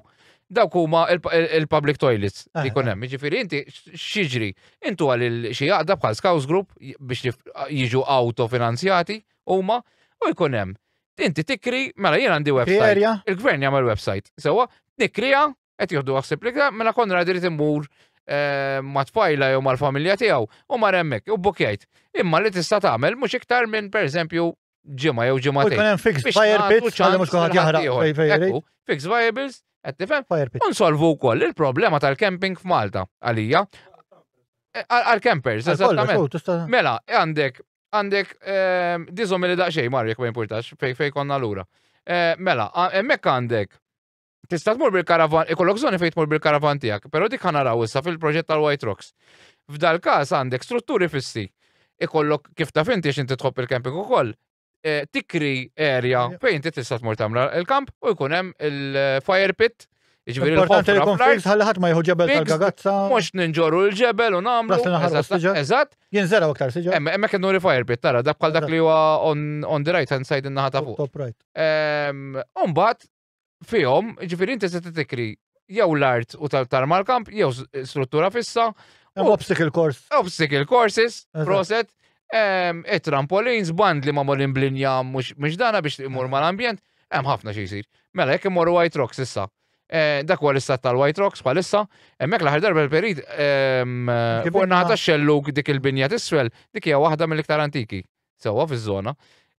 dawk huma il-public toilets li jkun hemm. Jiġifieri inti x'jiġri? Intu għal xi jaqda bħal Scouts Group biex jiġu autofinanzjati huma u jkun hemm. Inti tikri, mela jien għandi website. Il-gvern jagħmel website. Sewa, nikrija Qed jieħdu ħsieb li mela Konrad irid imur eh, ma' tfajla jew mal-familja tiegħu u mar hemmhekk u bukjajt. Imma li tista' tagħmel mhux iktar minn pereżempju ġimgħa jew ġimgħa. Ikun hemm fix fire pits għal mhux kulħadd jaħraq. Fix viables, qed tifhem? Unsolvu wkoll il-problema tal-camping f'Malta għalija. Eh, għal-campers, eżattament. Mela, għandek għandek ehm, dizom li daqxej marjek ma importax fej fej konna l-ura. Eh, mela, emmek għandek tista' tmur bil-karavan, ikollok żoni fejn tmur bil-karavan tiegħek, però dik ħanaraw issa fil-proġett tal-White Rocks. F'dal każ għandek strutturi fissi. Ikollok kif taf inti x'inti tħobb il-camping ukoll, eh, tikri area fejn inti tista' tmur tagħmel il-kamp u jkun hemm il-fire pit Ġviri l-ħofra jkun fix, ħalħat ma jħu ġebel tal-gagazza. Mux ninġoru l-ġebel u namlu. Eżat. Jinżera aktar siġa. Emme, emme kienu refire bit, tara, dak bħal dak li huwa on the right hand side in-naħa ta' fuq. Top right. Umbat, fihom, ġifieri inti se titikri jew l-art u tal-tarma l-kamp, jew struttura fissa. Obstacle course. Obstacle courses, proset. E trampolins, band li ma morin blinja mux dana biex imur ma l-ambjent, hemm ħafna xi jsir. Mela, jekk imorru White Rocks issa. Eh, dak huwa l-istat tal-White Rocks bħalissa, hemmhekk l-aħħar darba l-perit ehm, fuq nata xelluk dik il-binja tiswel, dik hija waħda mill-iktar antiki. Sewwa fiż-żona.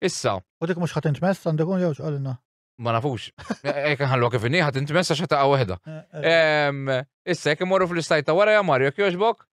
Issa. U dik mhux ħadd intmess għandek jew x'qalilna. Ma nafux. Ek nħallu kif inni, ħat inti messa xa taqa wahda. Eh, eh. Issa, jek morru fl-istajt ta' wara ja Mario, kjoġbok?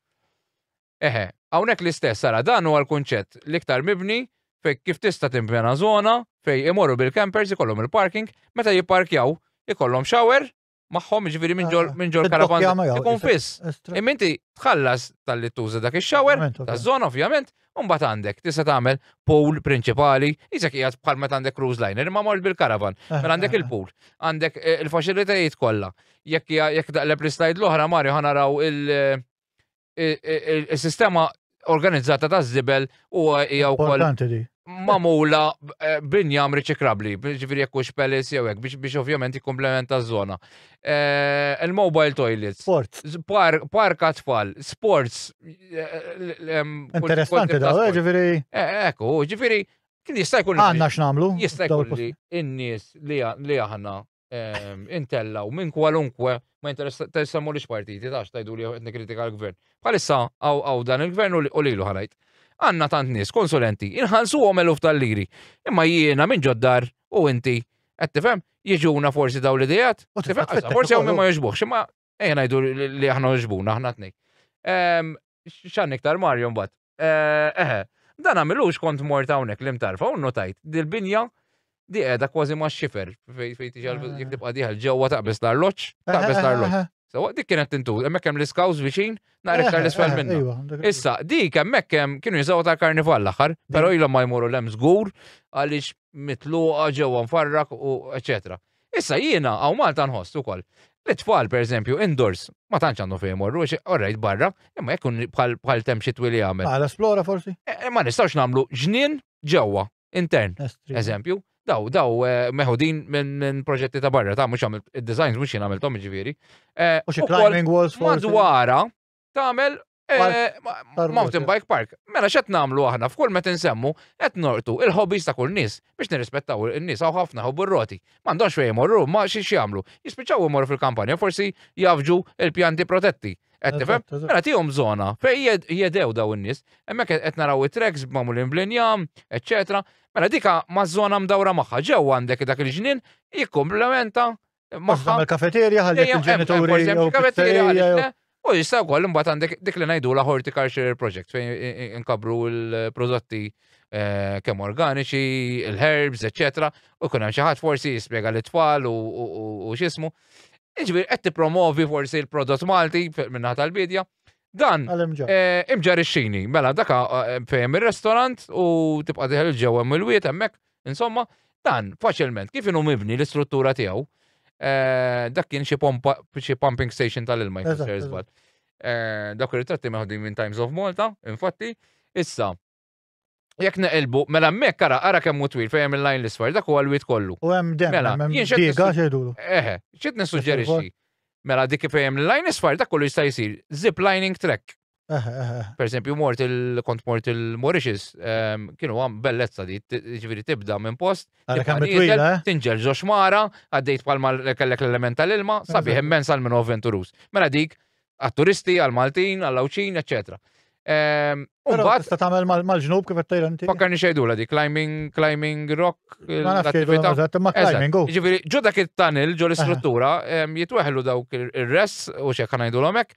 Eħe, għawnek l-istess, sara, dan huwa l-kunċett l-iktar mibni fej kif tista' timpjana zona fej imorru bil-campers ikollhom il-parking, meta jipparkjaw ikollhom shower magħhom, jiġifieri minn ġol minn ġol karavan. Ikun fiss. Imma inti tħallas tal-li tuża dak ix-shower, taż-żona ovvjament, u mbagħad għandek tista' tagħmel pool prinċipali, isek qiegħed bħal meta għandek cruise liner, imma mort bil-karavan, eh, mela għandek eh, eh. il-pool, għandek il-faċilitajiet kollha. Jekk jekk daqleb l-slide l-oħra Mario ħanaraw il- is-sistema organizzata ta' żibel u hija wkoll mamula eh, binjam riċikrabli, ġifiri jekk hux pelis jew hekk biex ovvjament jikkomplementa ż-żona. Eh, il-mobile toilets. Sports. Park tfal, sports. Eh, Interessanti da, ġifiri. Ekku, ġifiri, kien jista' jkun. Għanna x'namlu? Jista' jkun in-nies li aħna ehm, intellaw minn kwalunkwe ma jinteressammu li partiti tax tajdu li qed kritika l-gvern. Bħalissa għaw dan il-gvern u lilu ħalajt. Għanna tant nies konsulenti, inħalsu għom eluf tal-liri. Imma jiena minn ġoddar u inti qed tifhem jiġuna forsi daw l-idejat. Forsi għom ma jogħġbuhx, imma Ejja ngħidu li aħna ġbuna aħna tnej. Ehm, x'għan iktar Mario mbagħad. Eh, eħe, dan għamilux kont mort hawnhekk li mtarfa u notajt dil-binja di qiegħda kważi ma' xifer fejn tiġi eh. jekk tibqa' diħal ġewwa taqbes l-arloġġ, eh, taqbes l-arloġġ. So, dik kienet tintu, hemmhekk hemm l-iskaws viċin, nhar iktar l-isfel minnu. Issa, dik hemmhekk hemm kienu jiżgħu ta' karnival l-aħħar, però ilhom ma jmuru l-hemm żgur għaliex mitluqa ġewwa mfarrak u eċetera. Issa jiena hawn Malta nħoss ukoll li t-tfal pereżempju indoors ma tantx għandhom fejn imorru għax orrejt barra, imma jekk ikun bħal temp xitwi li jagħmel. Għal esplora forsi? Ma nistgħux nagħmlu ġnien ġewwa, intern, eżempju. Daw, daw meħudin minn proġetti ta' barra, ta' mhux għamilt id-designs mhux jien għamilthom jiġifieri. U xi climbing walls forsi? Madwarha, tagħmel eh, mountain bike park. Mela x'qed nagħmlu aħna f'kull meta nsemmu qed nortu il-hobbies ta' kull nies biex nirrispettaw in-nies hawn ħafna ħobbu r-roti. M'għandhomx fejn imorru, ma xi jagħmlu. Jispiċċaw imorru fil-kampanja forsi jafġu il-pjanti protetti. Qed tifhem? Mela tihom żona fejn jedew daw in-nies. Hemmhekk qed naraw it-treks b'magħmulin bl-injam, eċċetera. Mela dika ma' żona mdawra magħha ġew għandek dak il-ġnien jikkomplementa Maħħa l-kafeterja ħalli il-ġenituri. Il-kafeterja ħalli. U jista' wkoll imbagħad għandek dik li ngħidu la horticulture project fejn inkabru l-prodotti eh, kemm organiċi, il-herbs, eċetera, u kun hemm xi ħadd forsi jispjega lit tfal u x'ismu. Iġbir qed tippromovi forsi l-prodott Malti minnaħa tal-bidja. Dan eh, imġar ix-xini, mela daka eh, fejn ir-restorant u tibqa' diħel ġewwa mill-wiet hemmhekk Insomma, dan faċilment kif inhu mibni l-istruttura tiegħu eh, dak kien xi pumping station tal-ilma jfisser żball. Eh, dak ir-ritratti meħdu minn Times of Malta, infatti, issa Jek neqilbu, mela mek ara, ara kemm hu twil fejn il-lajn l-isfar, dak huwa l-wit kollu. U hemm dem, mela, hemm diega xedulu. Eħe, xit nissuġġerixxi. Mela dik fejn il-lajn isfar dak kollu jista' jsir zip lining track. Eh, eh, eh. Per esempio, mort il kont mort il-Mauritius, ehm, kienu għam bellezza di, ġviri tibda minn post, tinġel ġox mara, għaddejt palma kellek l-element tal-ilma, sabi hemmen sal minn avventurus. Mela dik, għat-turisti, għal-Maltin, għall-Awċin, eccetera. Ehm, Umbat. Tista tamel mal-ġnub kif għattajlanti. Fakkarni xejdu la di, climbing, climbing rock. Ma nafx xejdu, ma climbing, go. Ġiviri, ġu dak il-tunnel, ġu l-istruttura, ehm, jitweħlu dawk il-res, u xek ħanajdu l-omek,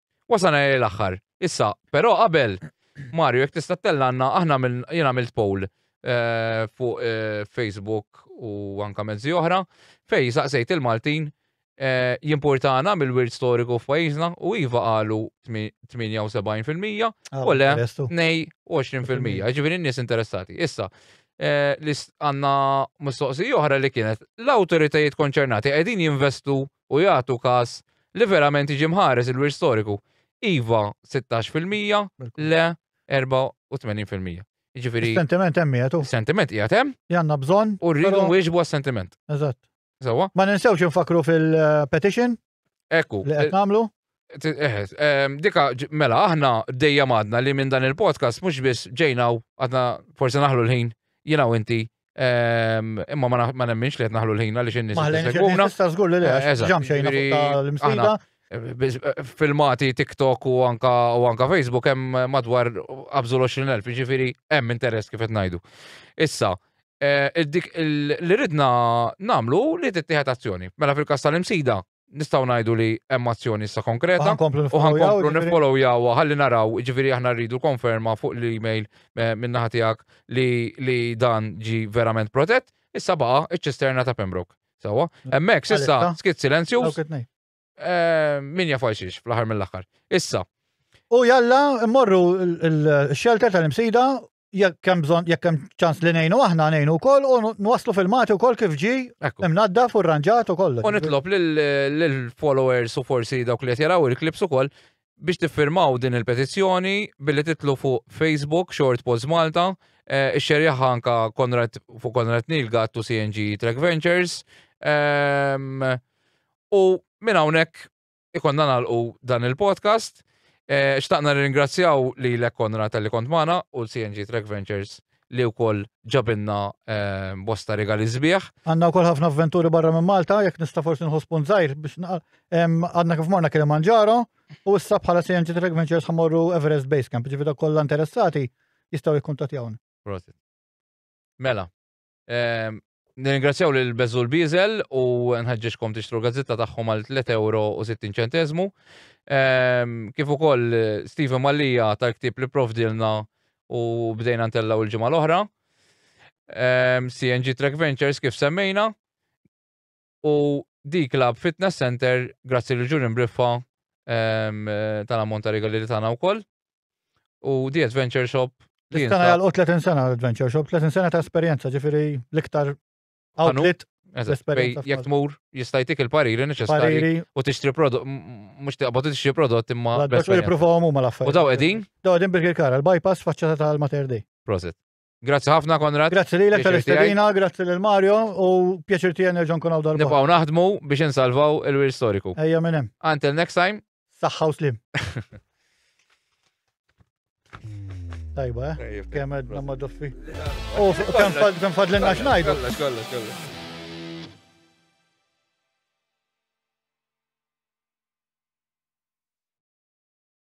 Wasana lejn l-aħħar. Issa, però qabel, Mario, jekk tista' tellanna, aħna jien għamilt poll eh, fuq eh, Facebook u anka mezzi oħra, fej saqsejt il-Maltin eh, jimpurtana mill-wirt storiku f'pajjiżna u iva qalu 78% ah, u le nej 20%. Ġifieri n-nies interessati. Issa, li għanna mistoqsi oħra li kienet l-autoritajiet konċernati qegħdin jinvestu u jagħtu każ li verament jiġi mħares il-wirt storiku, iva 16 fil-mija, le 84 fil-mija. Jiġifieri. Sentiment hemm jagħtu. Sentiment qiegħed hemm. Janna bżonn. U rridu nwieġbu għas-sentiment. Eżatt. Sewwa. Ma ninsewx infakru fil-petition. Ekku. Li qed nagħmlu. Dika, mela, aħna dejjem għadna li minn dan il-podcast mhux biss ġejnaw għadna forsi naħlu l-ħin, jina u inti, ehm, imma ma nemminx li qed naħlu l-ħin għaliex in-nies jissegwuna. Sta żgur li le, ġam xejn l-imsida. Filmati TikTok u anka u anka Facebook hemm madwar qabżu l-20,000, jiġifieri hemm interess kif qed ngħidu. Issa, eh, li ridna namlu li tittieħed azzjoni. Mela fil-kas tal-imsida, nistgħu ngħidu li hemm azzjoni issa konkreta u ħankomplu nifollowyawha ħalli naraw, ġifieri aħna rridu konferma fuq l-email eh, min-naħa tiegħek li, li dan ġi verament protett, issa baqa' iċ-ċisterna ta' Pembroke. Sawa, mm. hemmhekk issa skit silenzju. Eh, min jaf xiex fl-aħħar mill-aħħar. Issa. U jalla mmorru l-xelter tal-imsida jekk hemm bżonn jekk hemm ċans li ngħinu aħna ngħinu wkoll u nwasslu filmati wkoll kif ġi imnaddaf u rranġat u kollox. U nitlob lill-followers u forsi dawk li qed jaraw il-klips ukoll biex tiffirmaw din il-petizzjoni billi titlu fuq Facebook Short Post Malta, eh, ix-xerjaħ anka Konrad fuq Konrad Nilga tu CNG Track Ventures. Ehm, u minn hawnhekk ikonna nagħlqu dan il-podcast. Eh, xtaqna ringrazzjaw li l Konra tal-li kont mana u l-CNG Track Ventures li wkoll ġabinna eh, bosta regali zbieħ. Għanna wkoll ħafna avventuri barra minn Malta, jekk nista' forsi nħospun zaħir biex għadna kif morna kien manġaro u issa bħala CNG Track Ventures ħamorru Everest Base Camp, ġifieri kollha interessati jistgħu jikkuntattjawni. Mela, Ehm, nirringrazzjaw lil Bezzul Bizel u nħeġġeġkom tixtru gazzetta tagħhom għal 3 euro u 60 ċentezmu. Ehm, kif ukoll Stephen Mallija tal-ktib li provdilna u bdejna ntellaw il-ġimgħa l-oħra. Ehm, CNG Track Ventures kif semmejna. u di club fitness center grazzi li ġuri mbriffa ehm, eh, tal-ammont ta' regali li tagħna wkoll. U di adventure shop li Tana jgħal 30 sena l-adventure shop, 30 sena ta' esperjenza, ġifiri l-iktar outlet Jek tmur jistajtik il-pariri neċessari u tixtri prodott, mux tiqbad tixtri prodott imma. Għadda xo jipruvaw mu mal-affarijiet. U daw edin? Daw edin bil-kara, l-bypass faċċata tal-mater di. Prosit. Grazzi ħafna, Konrad. Grazzi li l-ektar istedina, grazzi lil Mario u pjaċir tiegħi nerġa' nkun hawn darba. Nibqgħu naħdmu biex insalvaw il-wir storiku. Ejja minn hemm. Until next time. Saħħa u slim. Tajba, eh? Kemm qed namma doffi. U kemm fadlenna x'ngħidu. Kollox, kollox, kollox.